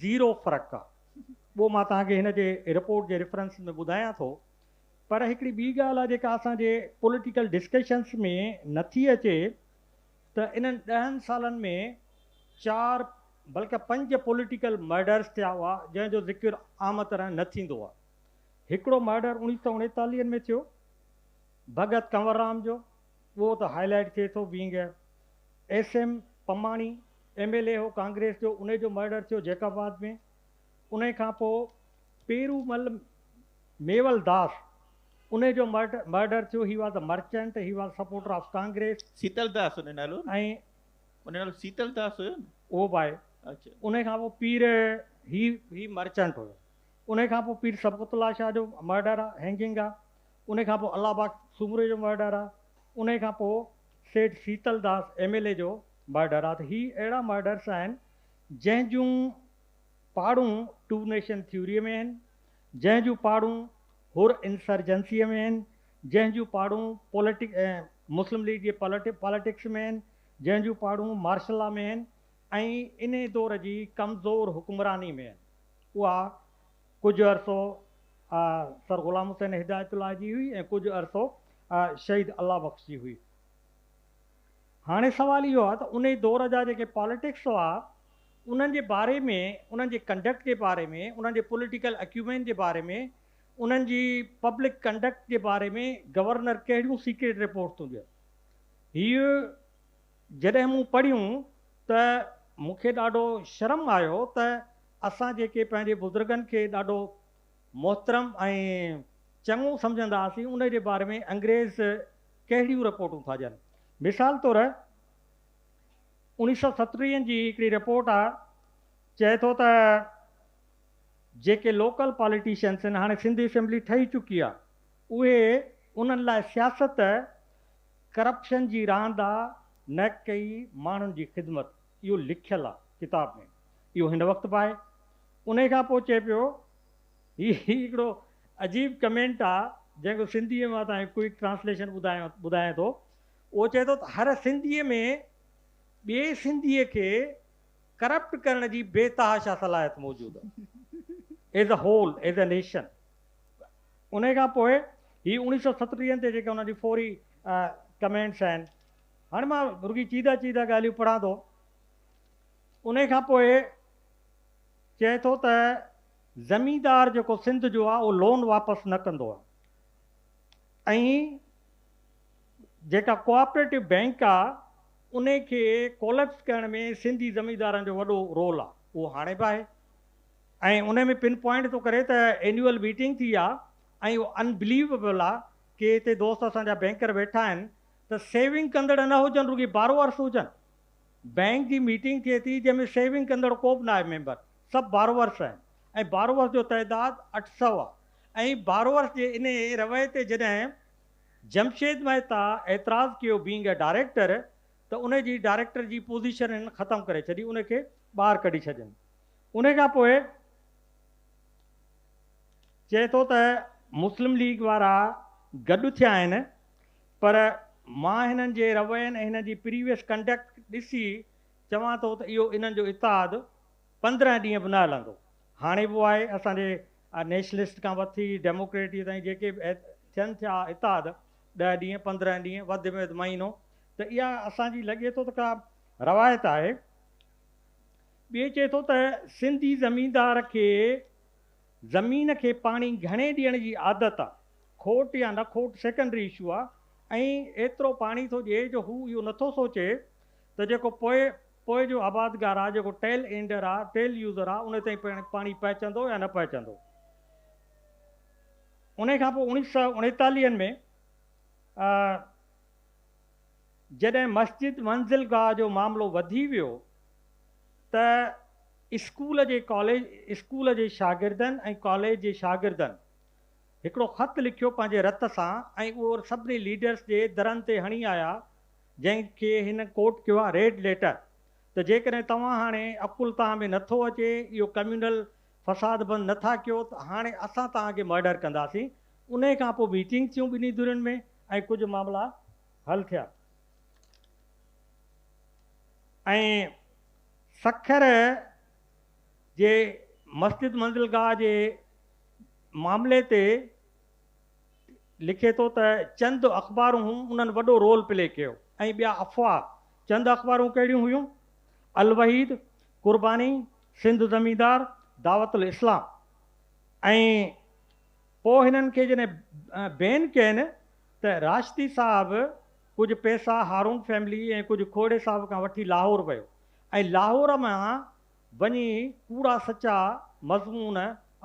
[SPEAKER 3] زيرو فرق آ. ٻو مان توهان کي هن جي رپورٽ جي ريفرنس ۾ ٻڌايان ٿو. پر هڪڙي ٻي ڳالهه آ جيڪا اسان جي پوليٽيڪل ڊسڪشنس ۾ نه ٿي اچي ته انهن ڏهن سالن ۾ چار بلڪه پنج پوليٽيڪل مرڊرز ٿيا هئا جنهن جو ذڪر عام طرح نه ٿيندو آ. هڪڙو مرڊر اوڻيهه سؤ اڻيتاليهن ۾ ٿيو ڀڳت ڪنوررام جو. اهو ته هاء لائيٽ ٿئي ٿو بينگ اي ايس ايم پماڻي ايم ايل اي هو ڪانگريس جو انهي جو مرڊر ٿيو جيڪب آباد ۾ انهي کان پو پيرومل ميول داس انهي جو مرڊر ٿيو he was a merchant he was supporter of Congress. Sital Das انهي
[SPEAKER 1] نالو هو ۽
[SPEAKER 3] انهي نالو
[SPEAKER 1] سيتل داس هيو نه اهو به آهي اچا
[SPEAKER 3] انهي کان پو
[SPEAKER 1] پير
[SPEAKER 3] هي هي مرچنٽ هيو انهي کان پو پير سبقت الله شاهه جو مرڊر آ هينگنگ آ انهي کان پوء الله باغ سومري جو مهر ڏهراء، انهي کان پوء Seth Shital Das M L A جو مهر ڏهراء ته هي اهڙا مهر ڏهرس آهن جنهن جون پاڙون ٽو نيشن ٿيوريء ۾ آهن، جنهن جون پاڙون حر انسرجنسيء ۾ آهن، جنهن جون پاڙون پولٽڪ مسلم ليگ جي پاليٽڪس ۾ آهن، جنهن جون پاڙون مارشل لا ۾ آهن ۽ انهي دور جي ڪمزور حڪمراني ۾ آهن. اها. ڪجهه عرصو سر غلام حسين هدايت الله جي هئي ۽ ڪجهه عرصو شهيد الله بخش جي هئي. هاڻي سوال اهو آهي ته انهي دور جا جيڪي پاليٽڪس هئا انهن جي باري ۾ انهن جي ڪنڊڪٽ جي باري ۾ انهن جي پوليٽيڪل اڪيومين جي باري ۾ انهن جي پبلڪ ڪنڊڪٽ جي باري ۾ گورنر ڪهڙيون سيڪريٽ رپورٽ ٿيون ڏين. هيء جڏهن مون پڙهيون ته مون کي ڏاڍو شرم آيو ته اسان جيڪي پنهنجي بزرگن کي ڏاڍو محترم ۽ چڱو سمجهندا هئاسين ان جي باري ۾ انگريز ڪهڙيون رپورٽون ٿا ڏين. مثال طور اوڻيهه سؤ ستٽيهه جي هڪڙي رپورٽ آ چئي ٿو ته جيڪي لوڪل پاليٽيشنس هن هاڻي سنڌ اسيمبلي ٺهي چڪي آ اهي انهن لاء سياست ڪرپشن جي راند آ نه ڪي ماڻهن جي خدمت اهو لکيل آ ڪتاب ۾ اهو هن وقت به آهي انهي کان پوء چئي پيو هي هڪڙو عجيب ڪمينٽ آ جنهن کي سنڌي مان تائين ڪوئڪ ٽرانسليشن ٻڌايان ٿو اهو چئي ٿو ته هر سنڌي ۾ ٻئي سنڌي کي ڪرپٽ ڪرڻ جي بي تحاشا صلاحيت موجود آ as a whole as a nation. انهي کان پوء هي اوڻيهه سؤ ستٽيهن تي جيڪي انهن جي فوري ڪمينٽس آهن هاڻي مان رڳي چيده چيده ڳالهيون پڙهان ٿو انهي کان پوء چئي ٿو ته زميندار جيڪو سنڌ جو آ اهو لون واپس نه ڪندو آ ۽ جيڪا ڪوآپريٽو بينڪ آ انهي کي ڪوليپس ڪرڻ ۾ سنڌي زميندارن جو وڏو رول آ اهو هاڻي به آهي ۽ انهي ۾ پن پوائنٽ ٿو ڪري ته اينيول ميٽنگ ٿي آ ۽ اهو ان بليويبل آ ڪي هتي دوست اسان جا بينڪر ويٺا آهن ته سيونگ ڪندڙ نه هجن رڳي بارورس هجن بينڪ جي ميٽنگ ٿئي ٿي جنهن ۾ سيونگ ڪندڙ ڪو به ناهي ميمبر سڀ بارورس آهن ۽ بارورس جو تعداد اٺ سؤ آ ۽ بارورس جي انهي رويي تي جڏهن جمشيد مهتا اعتراض ڪيو بينگ اي ڊائريڪٽر ته انهي جي ڊائريڪٽر جي پوزيشن هن ختم ڪري ڇڏي انهي کي ٻاهر ڪڍي ڇڏين ان کان پوء چئي ٿو ته مسلم ليگ وارا گڏ ٿيا آهن پر مان هنن جي روين ۽ هنن جي پريويس ڪنڊڪٽ ڏسي چوان ٿو ته اهو انهن جو اتحاد پندرهن ڏينهن به نه هلندو هاڻي به آهي اسان جي نيشنلسٽ کان وٺي ڊيموڪريٽي تائين جيڪي به ٿين ٿيا اتحاد ڏهه ڏينهن پندرهن ڏينهن وڌ ۾ وڌ مهينو ته اها اسان جي لڳي ٿو ته ڪا روايت آهي ٻيو چئي ٿو ته سنڌي زميندار کي زمين کي پاڻي گهڻي ڏيڻ جي عادت آ، کوٽ يا نه کوٽ سيڪنڊري اشو آ ۽ ايترو پاڻي ٿو ڏئي جو هو اهو نٿو سوچي ته جيڪو پوء پوء جو آبادگار آ، جيڪو ٽيل اينڊر آ، ٽيل يوزر آ، ان تائين پاڻي پهچندو يا نه پهچندو. انهي کانپوء اوڻيهه سؤ اڻيتاليهن ۾ جڏهن مسجد منزل گاهه جو معاملو وڌي ويو ته اسڪول جي ڪاليج اسڪول جي شاگردن ۽ ڪاليج جي شاگردن هڪڙو خط لکيو پنهنجي رت سان ۽ اهو سڀني ليڊرس جي درن تي هڻي آيا جنهن کي هن ڪوٽ ڪيو آهي ريڊ ليٽر ته جيڪڏهن توهان هاڻي عقل توهان ۾ نٿو اچي اهو ڪميونل فساد بند نٿا ڪيو ته هاڻي اسان توهان کي مئڊر ڪنداسين انهي کان پوء ميٽنگ ٿيون ٻنهي ڌرين ۾. ۽ ڪجهه معاملا حل ٿيا ۽ سکر جي مسجد منزلگاهه جي معاملي تي لکي ٿو ته چند اخبارون انهن وڏو رول پلي ڪيو ۽ ٻيا افواهه چند اخبارون ڪهڙيون هيون الوحيد، قرباني، سنڌ زميندار، دعوت الاسلام ۽. پوء هنن کي جڏهن بين ڪين ته راشدي صاحب ڪجهه پئسا هارون فيملي ۽ ڪجهه کوڙي صاحب کان وٺي لاهور ويو ۽ لاهور مان وڃي ڪوڙا سچا مضمون،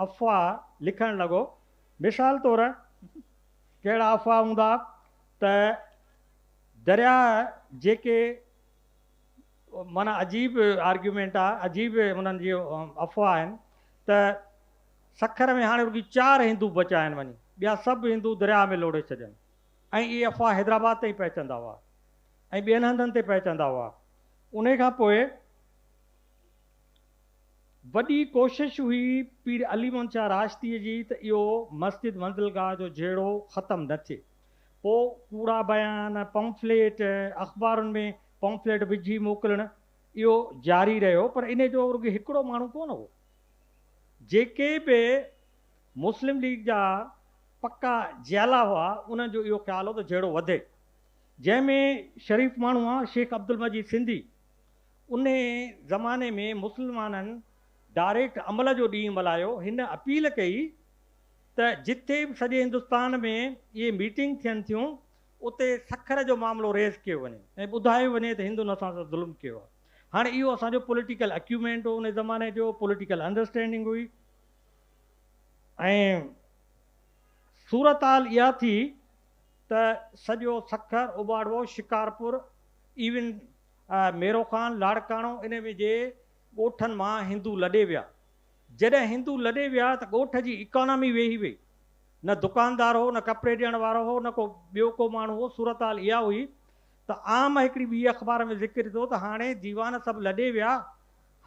[SPEAKER 3] افواهه، لکڻ لڳو. مثال طور ڪهڙا افواهه هوندا ته درياهه جيڪي معنيٰ عجيب آرگيومينٽ آ، عجيب انهن جي افواهه آهن ته سکر ۾ هاڻي رڳي چار هندو بچيا آهن وڃي ٻيا سڀ هندو درياهه ۾ لوڙهي ڇڏين ۽ اهي افواهه حيدرآباد تائين پهچندا هئا ۽ ٻين هنڌن تي پهچندا هئا انهي کان پوء وڏي ڪوشش هئي پير علي محمد شاهه راشديء جي ته اهو مسجد منزلگاهه جو جهيڙو ختم نه ٿئي پوء ڪوڙا بيان پمفليٽ اخبارن ۾ پمفليٽ وجهي موڪلڻ اهو جاري رهيو پر انهي جو رڳي هڪڙو ماڻهو ڪونه هو جيڪي به مسلم ليگ جا پڪا جيالا هئا، انهن جو اهو خيال هو ته جهيڙو وڌي، جنهن ۾ شريف ماڻهو هئا، شيخ عبدالمجيد سنڌي ان زماني ۾ مسلمانن ڊائريڪٽ عمل جو ڏينهن ملهايو، هن اپيل ڪئي ته جتي به سڄي هندستان ۾ اهي ميٽنگ ٿين ٿيون، اتي سکر جو معاملو ريز ڪيو وڃي ۽ ٻڌايو وڃي ته هندن اسان سان ظلم ڪيو آهي. هاڻي اهو اسان جو پوليٽيڪل اڪيومينٽ هو ان زماني جو، پوليٽيڪل انڊرسٽينڊنگ هئي ۽ صورتحال اها ٿي ته سڄو سکر، اوٻاڙوو، شڪارپور، ايون ميروخان، لاڙڪاڻو انهي ۾ جي ڳوٺن مان هندو لڏي ويا. جڏهن هندو لڏي ويا ته ڳوٺ جي اڪانامي ويهي وئي. نه دڪاندار هو، نه ڪپڙي ڏيڻ وارو هو، نه ڪو ٻيو ڪو ماڻهو هو، صورتحال اها هئي ته عام هڪڙي ٻي اخبار ۾ ذڪر ٿيو ته هاڻي ديوان سڀ لڏي ويا،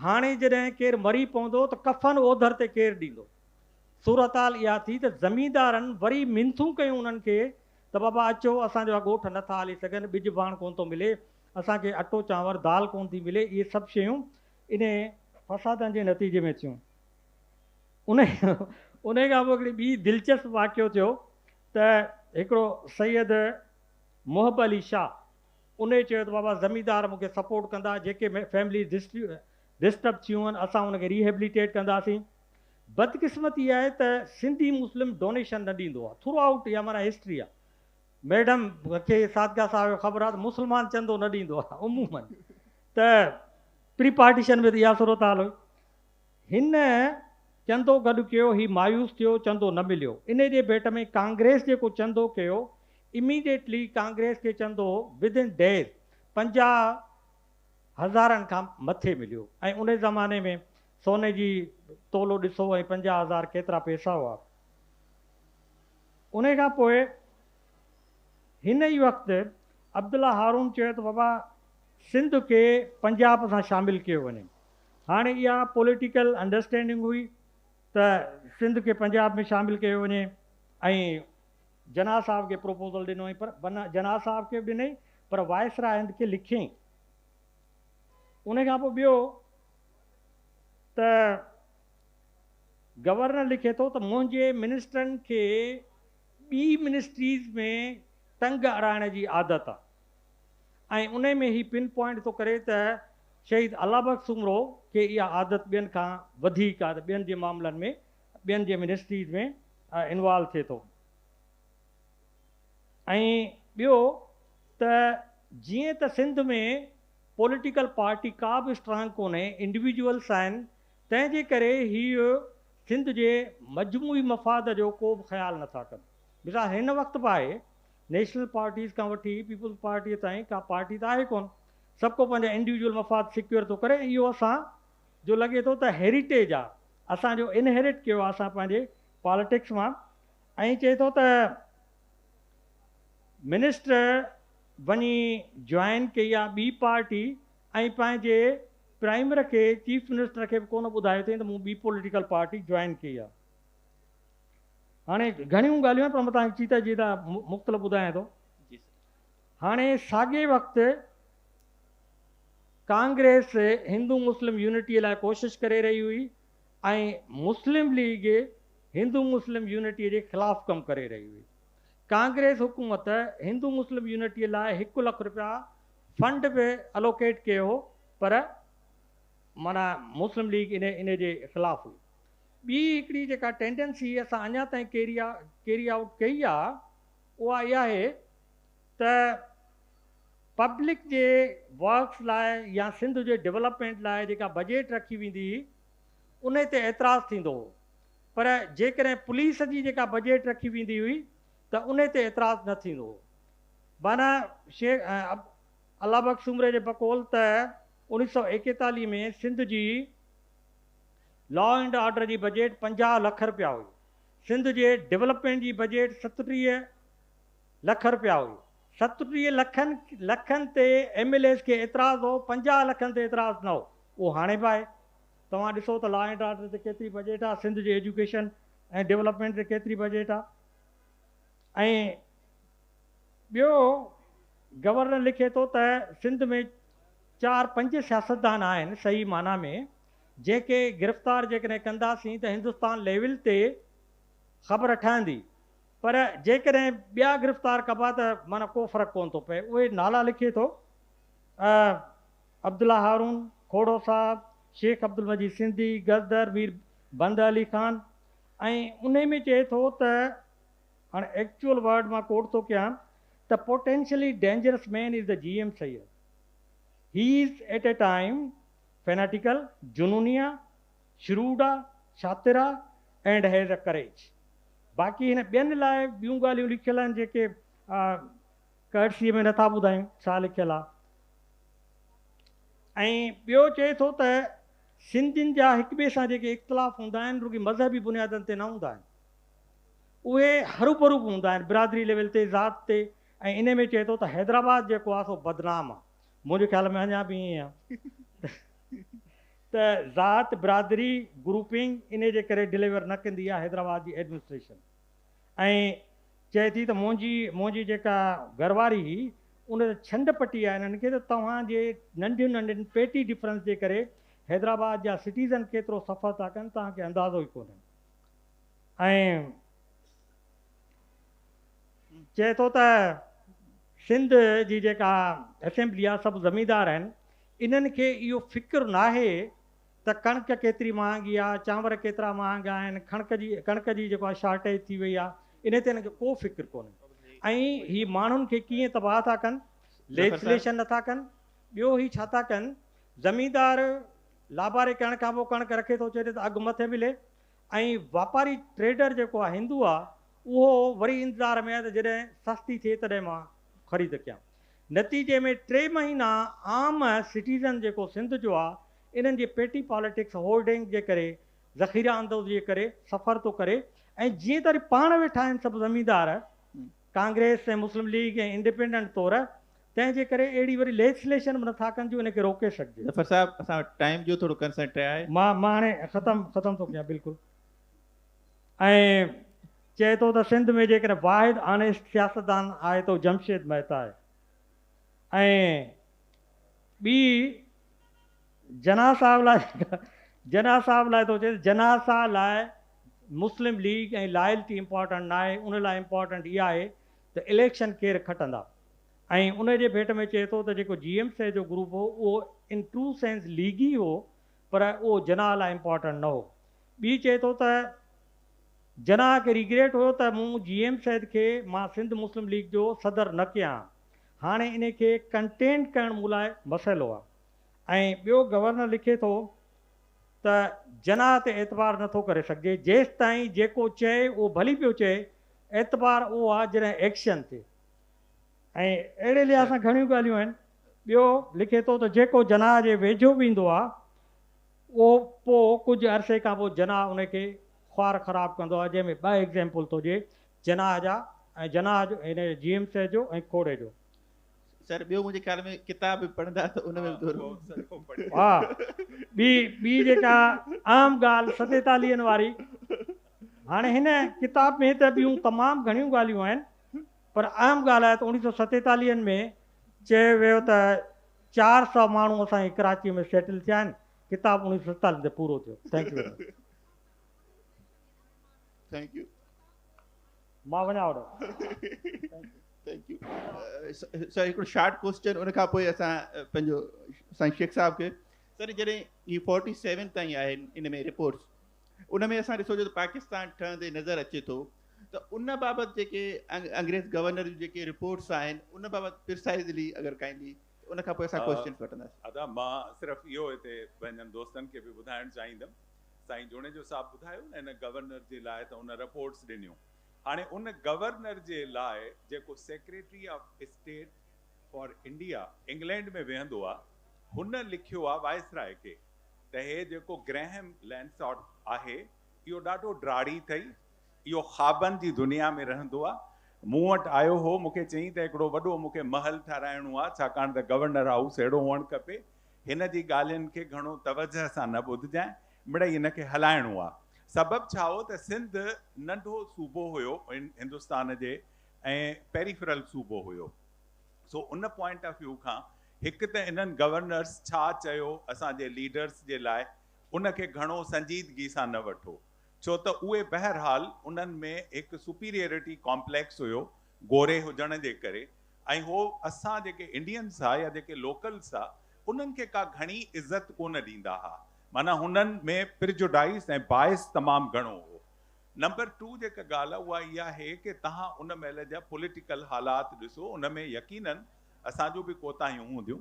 [SPEAKER 3] هاڻي جڏهن ڪير مري پوندو ته ڪفن اوڌر تي ڪير ڏيندو؟ صورتحال اها ٿي ته زميندارن وري منٿون ڪيون انهن کي ته بابا اچو اسان جا ڳوٺ نه ٿا هلي سگهن، ٻج ڀاڻ ڪونه ٿو ملي، اسان کي اٽو چانور دال ڪونه ٿي ملي، اهي سڀ شيون انهي فسادن جي نتيجي ۾ ٿيون. انهي کان پوء هڪڙي ٻي دلچسپ واقعو ٿيو ته هڪڙو سيد. محب علي شاهه انهي چيو ته بابا زميندار مون کي سپورٽ ڪندا جيڪي فيمليز ڊسٽرب ٿيون آهن اسان ان کي ريهيبليٽيٽ ڪنداسين بدقسمتي آهي ته سنڌي مسلم ڊونيشن نه ڏيندو آهي ٿرو آئوٽ اها معنيٰ هسٽري آهي ميڊم کي صادقه صاحب کي خبر آهي ته مسلمان چندو نه ڏيندو آهي عمومن ته پري پارٽيشن ۾ ته اها صورتحال هئي هن چندو گڏ ڪيو، هي مايوس ٿيو، چندو نه مليو، انهي جي ڀيٽ ۾ ڪانگريس جيڪو چندو ڪيو، Immediately ڪانگريس کي چندو Within Days پنجاهه هزارن کان مٿي مليو ۽ انهي زماني ۾ سوني جي تولو ڏسو ۽ پنجاهه هزار ڪيترا پئسا هئا. انهي کان پوء هن ئي وقت عبدالله هارون چيو ته بابا سنڌ کي پنجاب سان شامل ڪيو وڃي، هاڻي اها پوليٽيڪل انڊرسٽينڊنگ هئي ته سنڌ کي پنجاب ۾ شامل ڪيو وڃي ۽ جناح صاحب کي پروپوزل ڏنوئين پر جناح صاحب کي به ڏنئين پر وائسراء هند کي لکيائين. ان کان پوء ٻيو ته گورنر لکي ٿو ته منهنجي منسٽرن کي ٻي منسٽريز ۾ ٽنگ اڙائڻ جي عادت آهي ۽ انهي ۾ هي پن پوائنٽ ٿو ڪري ته شهيد الله بخش سومرو کي اها عادت ٻين کان وڌيڪ آهي ته ٻين جي معاملن ۾ ٻين جي منسٽريز ۾ انوالو ٿئي ٿو ۽ ٻيو ته جيئن ته سنڌ ۾ پوليٽيڪل پارٽي ڪا به اسٽرانگ ڪونهي انڊيويجوئلس آهن تنهن جي ڪري هي سنڌ جي مجموعي مفاد جو ڪو به خيال نٿا ڪن مثال هن وقت به آهي نيشنل پارٽيز کان وٺي پيپلز پارٽيء تائين ڪا پارٽي ته آهي ڪونه، سڀ ڪو پنهنجا انڊيوڊيول مفاد سيڪيور ٿو ڪري ۽ اهو اسان جو لڳي ٿو ته هيريٽيج آهي، اسان جو انهيرٽ ڪيو آهي اسان پنهنجي پاليٽڪس مان ۽ چئي ٿو ته منسٽر وڃي جوائن ڪئي آهي ٻي پارٽي ۽ پنهنجي پرائمر کي چيف منسٽر کي به ڪونه ٻڌايو اٿئين ته مون ٻي پوليٽيڪل پارٽي جوائن ڪئي آهي. هاڻي گهڻيون ڳالهيون آهن پر مان توهان کي چيتا چيتا مختلف ٻڌايان ٿو. هاڻي ساڳئي وقت ڪانگريس هندو مسلم يونٽي لاء ڪوشش ڪري رهي هئي ۽ مسلم ليگ هندو مسلم يونٽي جي خلاف ڪم ڪري رهي هئي. ڪانگريس حڪومت هندو مسلم يونٽي لاء هڪ لک رپيا فنڊ به الوڪيٽ ڪيو هو پر معنيٰ مسلم ليگ ان جي خلاف هئي. ٻي هڪڙي جيڪا ٽينڊنسي اسان اڃا تائين ڪيري ڪيري آئوٽ ڪئي آ اها اها آهي ته پبلڪ جي ورڪس لاء يا سنڌ جي ڊولپمينٽ لاء جيڪا بجيٽ رکي ويندي هئي انهي تي اعتراض ٿيندو هو پر جيڪڏهن پوليس جي جيڪا بجيٽ رکي ويندي هئي ته انهي تي اعتراض نه ٿيندو هو معنيٰ شيخ الله بخش سومري جي بقول ته اوڻيھ سؤ ايڪيتاليھ ۾ سنڌ جي لا اينڊ آرڊر جي بجيٽ پنجاهه لک رپيا هئي، سنڌ جي ڊولپمينٽ جي بجيٽ ستٽيهه لک رپيا هئي، ستٽيهه لکن لکن تي ايم ايل ايز کي اعتراض هو، پنجاهه لکن تي اعتراض نه هو، اهو هاڻي به آهي، توهان ڏسو ته لا اينڊ آرڊر تي ڪيتري بجيٽ آهي، سنڌ جي ايجوڪيشن ۽ ڊولپمينٽ تي ڪيتري بجيٽ آهي ۽ ٻيو گورنر لکي ٿو ته سنڌ ۾ چار پنج سياستدان آهن صحيح معنيٰ ۾ جيڪي گرفتار جيڪڏهن ڪنداسين ته هندستان ليول تي خبر ٺهندي پر جيڪڏهن ٻيا گرفتار ڪبا ته معنيٰ ڪو فرق ڪونه ٿو پئي اهي نالا لکي ٿو عبدالله هارون کوڙو صاحب، شيخ عبدالمجيد سنڌي، گزدر مير بنده علي خان ۽ انهي ۾ چئي ٿو ته هاڻ ايڪچوئل ورڊ مان ڪوٽ ٿو ڪيان ته potentially dangerous man is the G M Syed he is at a time Fanatical، جنونيه، Shrewd، شاطر، and has a courage. باقي هن ٻين لاء ٻيون ڳالهيون لکيل آهن جيڪي Courtesy ۾ نٿا ٻڌايون ڇا لکيل آهي. ۽ ٻيو چئي ٿو ته سنڌين جا هڪ ٻئي سان جيڪي اختلاف هوندا آهن رڳي مذهبي بنيادن تي نه هوندا آهن. اهي هروڀرو به هوندا آهن برادري ليول تي، ذات تي ۽ انهي ۾ چئي ٿو ته حيدرآباد جيڪو آهي سو بدنام آهي. منهنجي خيال ۾ اڃا به ائين آهي ته ذات، برادري، گروپنگ انهي جي ڪري ڊليور نه ڪندي آهي حيدرآباد جي ايڊمنسٽريشن ۽ چئي ٿي ته منهنجي منهنجي جيڪا گهر واري هئي ان ته ڇنڊ پٽي آهي انهن کي ته توهان جي ننڍين ننڍين پيٽي ڊفرنس جي ڪري حيدرآباد جا سٽيزن ڪيترو سفر ٿا ڪن توهان کي اندازو ئي ڪونهي ۽ چئي ٿو ته سنڌ جي جيڪا اسيمبلي آهي سڀ زميندار آهن انهن کي اهو فڪر ناهي ته ڪڻڪ ڪيتري مهانگي آهي چانور ڪيترا مهانگا آهن ڪڻڪ جي ڪڻڪ جي جيڪو آهي شارٽيج ٿي وئي آهي انهي تي انهن کي ڪو فڪر ڪونهي ۽ هي ماڻهن کي ڪيئن تباهه ٿا ڪن ليجسليشن نٿا ڪن ٻيو هي ڇا ٿا ڪن زميندار لاباري ڪرڻ کان پوء ڪڻڪ رکي ٿو چي ته اگهه مٿي ملي ۽ واپاري ٽريڊر جيڪو آ هندو آ اهو وري انتظار ۾ آ ته جڏهن سستي ٿئي تڏهن مان خريد ڪيان. نتيجي ۾ ٽي مهينا عام سٽيزن جيڪو سنڌ جو آ انهن جي پيٽي پاليٽڪس هولڊنگ جي ڪري ذخيره اندوزي جي ڪري سفر ٿو ڪري ۽ جيئن ته وري پاڻ ويٺا آهن سڀ زميندار ڪانگريس ۽ مسلم ليگ ۽ انڊيپينڊنٽ طور تنهن جي ڪري اهڙي وري ليسليشن به نٿا ڪن جو ان کي روڪي سگهجي. ظفر صاحب اسان وٽ
[SPEAKER 1] ٽائيم جو ٿورو ڪنسنٽ آهي. مان مان هاڻي ختم
[SPEAKER 3] ختم ٿو ڪيان بلڪل ۽ چئي ٿو ته سنڌ ۾ جيڪڏهن واحد آنيسٽ سياستدان آهي ته هو جمشيد مهتا آهي ۽ ٻي جناح صاحب لاء جناح صاحب لاء ٿو چئي ته جناح صاحب لاء مسلم ليگ ۽ لائلٽي امپارٽنٽ ناهي ان لاء امپارٽنٽ اها آهي ته اليڪشن ڪير کٽندا. ۽ ان جي ڀيٽ ۾ چئي ٿو ته جيڪو جي ايم سيد جو گروپ هو اهو ان ٽرو سينس ليگي هو پر اهو جناح لاء امپارٽنٽ نه هو. ٻي چئي ٿو ته جناح کي ريگريٽ هيو ته مون جي ايم سيد کي مان سنڌ مسلم ليگ جو صدر نه ڪيا ها. هاڻي انهي کي ڪنٽينٽ ڪرڻ مون لاء مسئلو آهي. ۽ ٻيو گورنر لکي ٿو ته جناح تي اعتبار نه ٿو ڪري سگهجي جيستائين جيڪو چئي اهو ڀلي پيو چئي اعتبار اهو آهي جڏهن ايڪشن ٿئي. ۽ اهڙي لحاظ سان گهڻيون ڳالهيون آهن. ٻيو لکي ٿو ته جيڪو جناح جي ويجهو به ايندو آهي اهو پوء ڪجهه عرصي کان پوء جناح ان کي خوار خراب ڪندو آهي جنهن ۾ ٻه ايگزيمپل ٿو ڏئي جناح جا ۽ جناح جو هن جي ايم سي جو ۽ کوڙي جو. سر ٻيو
[SPEAKER 1] منهنجي خيال ۾ ڪتاب به پڙهندا ته ان ۾ به ٿورو. ها
[SPEAKER 3] ٻي ٻي جيڪا اهم ڳالهه ستيتاليهن واري هاڻي هن ڪتاب ۾ ته ٻيون تمام گهڻيون ڳالهيون آهن پر اهم ڳالهه آهي ته اوڻيهه سؤ ستيتاليهن ۾ چيو ويو ته چار سؤ ماڻهو اسان جي ڪراچيء ۾ سيٽل ٿيا آهن، ڪتاب اوڻيهه سؤ ستيتاليهن تي پورو ٿيو. Thank you very much.
[SPEAKER 1] Thank you.
[SPEAKER 3] مان وڃان هوڏانهن. Thank
[SPEAKER 1] you. سر هڪڙو شارٽ ڪوسچن ان کان پوء اسان پنهنجو سائين شيخ صاحب کي سر جڏهن هي فورٽي سيون تائين آهن ان ۾ رپورٽس ان ۾ اسان ڏسو جو ته پاڪستان ٺهندي نظر اچي ٿو ته ان بابت جيڪي انگريز گورنر جون جيڪي رپورٽس آهن ان بابت پرسائزلي اگر ڪائين به ته ان کان پوء اسان ڪوئسچنس وٺنداسين. ادا مان صرف
[SPEAKER 4] اهو هتي پنهنجن دوستن کي به ٻڌائڻ چاهيندم سائين جوڻيجو صاحب ٻڌايو نه ان گورنر جي لاء ته ان رپورٽس ڏنيون هاڻي ان گورنر جي لاء جيڪو secretary of state for India England ۾ ويهندو آ هن لکيو آ وائسراء کي ته هي جيڪو گريهيم لينساٽ آهي اهو ڏاڍو ڊاڙهي اٿئي، اهو خوابن جي دنيا ۾ رهندو آ، مون وٽ آيو هو، مون کي چيائين ته هڪڙو وڏو مون کي محل ٺهرائڻو آ، ڇاڪاڻ ته گورنر هائوس اهڙو هئڻ کپي، هن جي ڳالهين کي گهڻو توجهه سان نه ٻڌجانء، مڙئي هن کي هلائڻو آ. سبب ڇا هو ته سنڌ ننڍو صوبو هيو، هندستان جي ۽ پيريفرل صوبو هيو. سو ان پوائنٽ آف ويو کان هڪ ته انهن گورنرس ڇا چيو اسان جي ليڊرس جي لاء ان کي گهڻو سنجيدگي سان نه وٺو ڇو ته اهي بهرحال انهن ۾ هڪ سپيريئرٽي ڪامپليڪس هيو گوري هجڻ جي ڪري ۽ هو اسان جيڪي انڊينس ها يا جيڪي لوڪلس ها انهن کي ڪا گهڻي عزت ڪونه ڏيندا ها معنيٰ هنن ۾ پرجوڊائيس ۽ باعث تمام گهڻو هو نمبر ٽو جيڪا ڳالهه اها اها آهي ڪي تهان ان مهل جا پوليٽيڪل حالات ڏسو ان ۾ يقينن اسان جون به ڪوتاهيون هونديون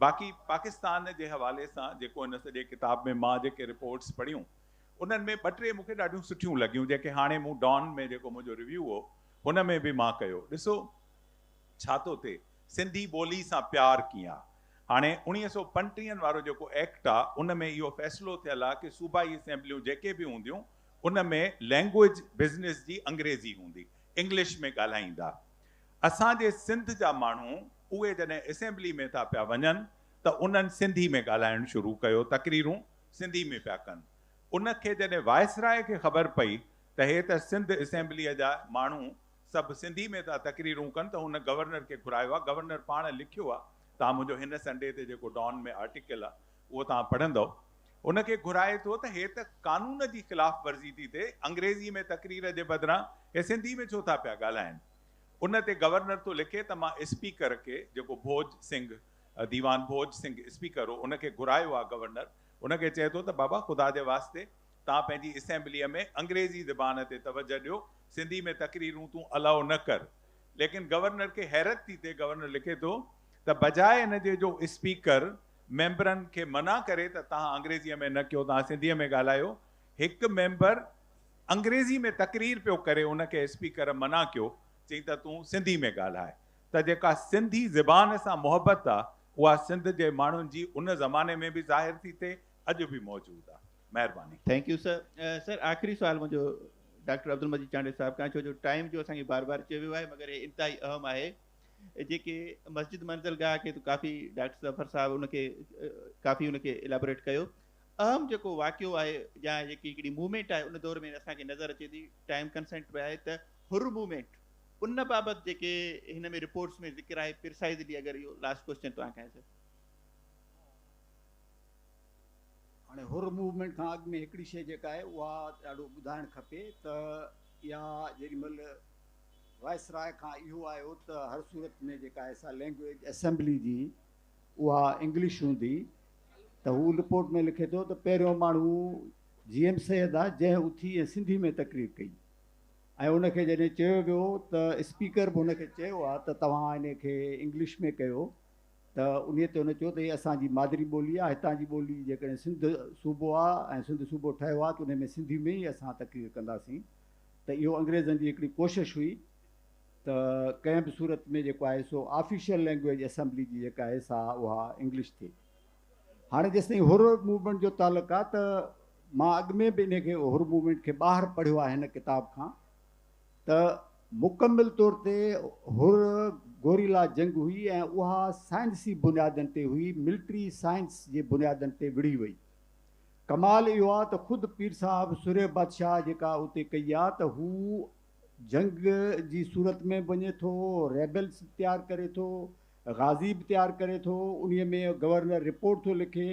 [SPEAKER 4] باقي پاڪستان جي حوالي سان جيڪو هن سڄي ڪتاب ۾ مان جيڪي رپورٽس پڙهيون انهن ۾ ٻه ٽي مونکي ڏاڍيون سٺيون لڳيون جيڪي هاڻي مون ڊان ۾ جيڪو منهنجو ريويو هو ان ۾ به مان ڪيو ڏسو ڇا ٿو ٿئي سنڌي ٻولي سان پيار ڪيئن آ هاڻي اڻيهه سؤ پنٽيهن وارو جيڪو ايڪٽ آ ان ۾ اهو فيصلو ٿيل آ ڪي صوبائي اسيمبليون جيڪي به هونديون ان ۾ لينگوئيج بزنس جي انگريزي هوندي، انگلش ۾ ڳالهائيندا. اسان جي سنڌ جا ماڻهو اهي جڏهن اسيمبلي ۾ ٿا پيا وڃن ته انهن سنڌي ۾ ڳالهائڻ شروع ڪيو، تقريرون سنڌي ۾ پيا ڪن. ان کي جڏهن وائسراء کي خبر پئي ته هي ته سنڌ اسيمبليء جا ماڻهو سڀ سنڌي ۾ ٿا تقريرون ڪن ته هن گورنر کي گهرايو آ، گورنر پاڻ لکيو آ، تان منهنجو هن سنڊي تي جيڪو ڊان ۾ آرٽيڪل آ، اهو توهان پڙهندؤ. ان کي گهرائي ٿو ته هي ته قانون جي خلاف ورزي ٿي ٿئي، انگريزي ۾ تقرير جي بدران هي سنڌي ۾ ڇو ٿا پيا ڳالهائين. ان تي گورنر ٿو لکي ته مان اسپيڪر کي، جيڪو ڀوڄ سنگهه، ديوان ڀوڄ سنگهه اسپيڪر هو، ان کي گهرايو آهي گورنر ان کي چئي ٿو ته بابا خدا جي واسطي توهان پنهنجي اسيمبليء ۾ انگريزي زبان تي توجهه ڏيو، سنڌي ۾ تقريرون تون الاء نه ڪر. ليڪن گورنر کي حيرت ٿي ٿئي، گورنر لکي ٿو ته بجاء ان جي جو اسپيڪر ميمبرن کي منع ڪري ته توهان انگريزيء ۾ نه ڪيو، توهان سنڌيء ۾ ڳالهايو. هڪ ميمبر انگريزيء ۾ تقرير پيو ڪري، ان کي اسپيڪر منع ڪيو، چيائين ته تون سنڌيء ۾ ڳالهاء. ته جيڪا سنڌي زبان سان محبت آ، اها سنڌ جي ماڻهن جي ان زماني ۾ به ظاهر ٿي ٿئي، اڄ به موجود آ. مهرباني. Thank you sir.
[SPEAKER 1] سر آخري سوال منهنجو ڊاڪٽر عبدالمجيد چانڊيو صاحب کان ڇو جو ٽائيم جو اسان کي بار بار چيو ويو آهي مگر هي انتهائي اهم آهي. جيڪي مسجد منزل گاهه کي ته ڪافي ڊاڪٽر ظفر صاحب ان کي ڪافي ان کي الابوريٽ ڪيو اهم جيڪو واقعو آهي يا جيڪي هڪڙي موومينٽ آهي ان دور ۾ اسان کي نظر اچي ٿي ٽائيم ڪنسنٽ به آهي ته حر موومينٽ ان بابت جيڪي هن ۾ رپورٽس ۾ ذڪر آهي پرسائزلي اگر اهو لاسٽ ڪوشچن توهان کان سر هاڻي حر
[SPEAKER 5] موومينٽ کان اڳ ۾ هڪڙي شيء جيڪا آهي اها ڏاڍو ٻڌائڻ کپي ته اها جيڏي مهل وائسراء کان اهو آيو ته هر صورت ۾ جيڪا ايسا لينگويج اسيمبلي جي اها انگلش هوندي ته هو رپورٽ ۾ لکي ٿو ته پهريون ماڻهو جي ايم سيد آ جنهن اٿي ۽ سنڌي ۾ تقرير ڪئي ۽ ان کي جڏهن چيو ويو ته اسپيڪر به ان کي چيو آ ته توهان ان کي انگلش ۾ ڪيو ته انهي تي هن چيو ته هي اسان جي مادري ٻولي آ هتان جي ٻولي جيڪڏهن سنڌ صوبو آ ۽ سنڌ صوبو ٺهيو آ ته انهي ۾ سنڌي ۾ ئي اسان تقرير ڪنداسين ته اهو انگريزن جي هڪڙي ڪوشش هئي ته ڪنهن به صورت ۾ جيڪو آهي سو آفيشل لينگويج اسيمبلي جي جيڪا آهي سا اها انگلش ٿئي. هاڻي جيستائين حر موومينٽ جو تعلق آهي ته مان اڳ ۾ به انهي کي حر موومينٽ کي ٻاهر پڙهيو آهي هن ڪتاب کان ته مڪمل طور تي حر گوريلا جنگ هئي ۽ اها سائنسي بنيادن تي هئي، ملٽري سائنس جي بنيادن تي وڙهي وئي. ڪمال اهو آ ته خود پير صاحب سرهيه بادشاهه جيڪا اتي ڪئي آ ته هو جنگ جي صورت ۾ به وڃي ٿو، ريبلز به تيار ڪري ٿو، غازي به تيار ڪري ٿو، انهي ۾ گورنر رپورٽ ٿو لکي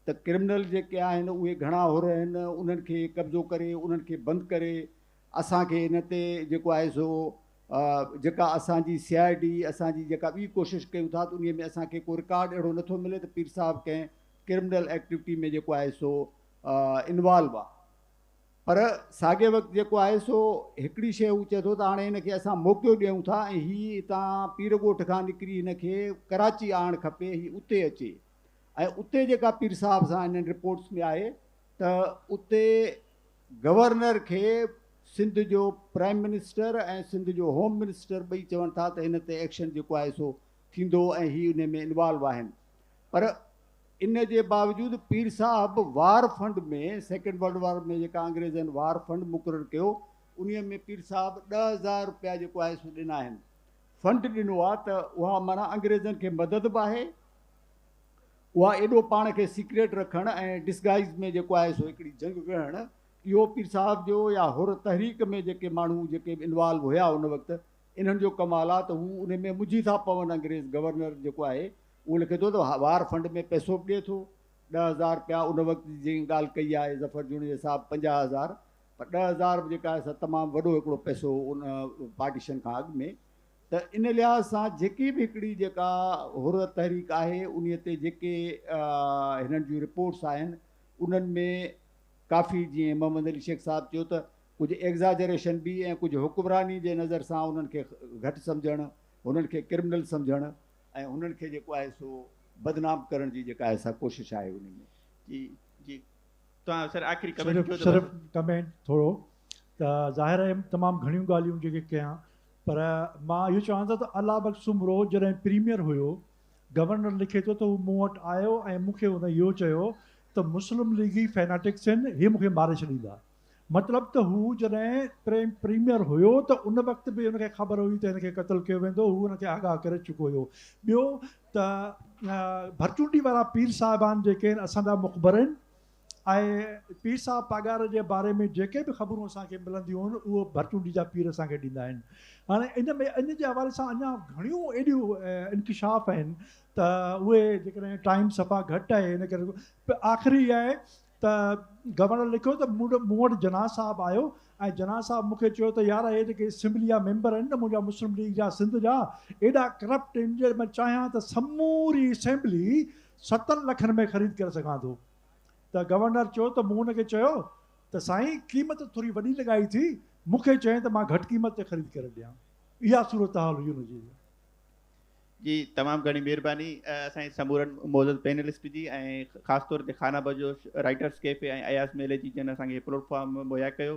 [SPEAKER 5] ته ڪرمنل جيڪي آهن اهي گهڻا حر آهن انهن کي قبضو ڪري انهن کي بند ڪري اسان کي ان تي جيڪو آهي سو جيڪا اسان جي سي آء ڊي اسان جي جيڪا ٻي ڪوشش ڪيون ٿا ته انهي ۾ اسان کي ڪو رڪارڊ اهڙو نه ٿو ملي ته پير صاحب ڪنهن ڪرمنل ايڪٽيوٽي ۾ جيڪو آهي سو انوالو آ پر ساڳي وقت جيڪو آهي سو هڪڙي شيء هو چئي ٿو ته هاڻي هن کي اسان موقعو ڏيون ٿا ۽ هي هتان پير ڳوٺ کان نڪري هن کي ڪراچي آڻ کپي هي اتي اچي ۽ اتي جيڪا پير صاحب سان هنن رپورٽس ۾ آهي ته اتي گورنر کي سنڌ جو پرائم منسٽر ۽ سنڌ جو هوم منسٽر ٻئي چون ٿا ته هن تي ايڪشن جيڪو آهي سو ٿيندو ۽ هي ان ۾ انوالو آهن پر ان جي باوجود پير صاحب war fund ۾ second world war ۾ جيڪا انگريزن وار فنڊ مقرر ڪيو انهي ۾ پير صاحب ڏهه هزار روپيا جيڪو آهي سو ڏنا آهن فنڊ ڏنو آهي ته اها معنيٰ انگريزن کي مدد به آهي اها ايڏو پاڻ کي سيڪريٽ رکڻ ۽ ڊسگائز ۾ جيڪو آهي سو هڪڙي جنگ وڙهڻ اهو پير صاحب جو يا حر تحريڪ ۾ جيڪي ماڻهو جيڪي به انوالو هيا ان وقت انهن جو ڪمال آهي ته هو انهي ۾ منجهي ٿا پون انگريز گورنر جيڪو آهي اهو لکي ٿو ته وار فنڊ ۾ پئسو به ڏئي ٿو، ڏهه هزار رپيا ان وقت جي جيڪي ڳالهه ڪئي آهي ظفر جوڻيجي صاحب پنجاهه هزار پر ڏهه هزار به جيڪا آهي سا تمام وڏو هڪڙو پئسو هو ان پارٽيشن کان اڳ ۾ ته ان لحاظ سان جيڪي به هڪڙي جيڪا حر تحريڪ آهي انهي تي جيڪي هنن جون رپورٽس آهن انهن ۾ ڪافي جيئن محمد علي شيخ صاحب چيو ته ڪجهه ايگزاجريشن به ۽ ڪجهه حڪمراني جي نظر سان انهن کي گهٽ سمجهڻ انهن کي ڪرمنل سمجهڻ ۽ انهن کي جيڪو آهي سو بدنام ڪرڻ جي جيڪا آهي سا ڪوشش آهي انهي ۾. جي جي
[SPEAKER 1] توهان سر آخري ڪمينٽ ڪيو ته بس. صرف ڪمينٽ
[SPEAKER 2] ٿورو ته ظاهر ايم تمام گهڻيون ڳالهيون جيڪي ڪيان پر مان اهو چوان ٿو ته الله بخش سومرو جڏهن پريميئر هيو گورنر لکي ٿو ته هو مون وٽ آيو ۽ مون کي هن اهو چيو ته مسلم ليگي فيناٽڪس هن هي مون کي ماري ڇڏيندا مطلب ته هو جڏهن پريميئر هيو ته ان وقت به هن کي خبر هئي ته هن کي قتل ڪيو ويندو، هو ان کي آگاهه ڪري چڪو هيو. ٻيو ته ڀرچونڊي وارا پير صاحبان جيڪي آهن اسان جا مخبر آهن ۽ پير صاحب پاڳاري جي باري ۾ جيڪي به خبرون اسان کي ملنديون آهن اهو ڀرچونڊي جا پير اسان کي ڏيندا آهن. هاڻي ان ۾ ان جي حوالي سان اڃا گهڻيون ايڏيون انڪشاف آهن ته اهي جيڪڏهن ٽائيم صفا گهٽ آهي ان ڪري آخري اها آهي ته گورنر لکيو ته مون وٽ جناح صاحب آيو ۽ جناح صاحب مون کي چيو ته يار اهي جيڪي اسيمبلي جا ميمبر آهن نه منهنجا مسلم ليگ جا سنڌ جا ايڏا ڪرپٽ آهن جي مان چاهيان ته سموري اسيمبلي ستن لکن ۾ خريد ڪري سگهان ٿو ته گورنر چيو ته مون هن کي چيو ته سائين قيمت ٿوري وڏي لڳائي ٿي مون کي چئين ته مان گهٽ قيمت تي خريد ڪري ڏيان اها صورتحال هئي ان جي
[SPEAKER 1] جي تمام گهڻي مھرباني اسان جي سمورن معزز پينلسٽ جي ۽ خاص طور تي خانه بدوش رائيٽرس ڪيفي ۽ اياز ميلي جي جن اسان کي ھي پليٽ فارم مھيا ڪيو.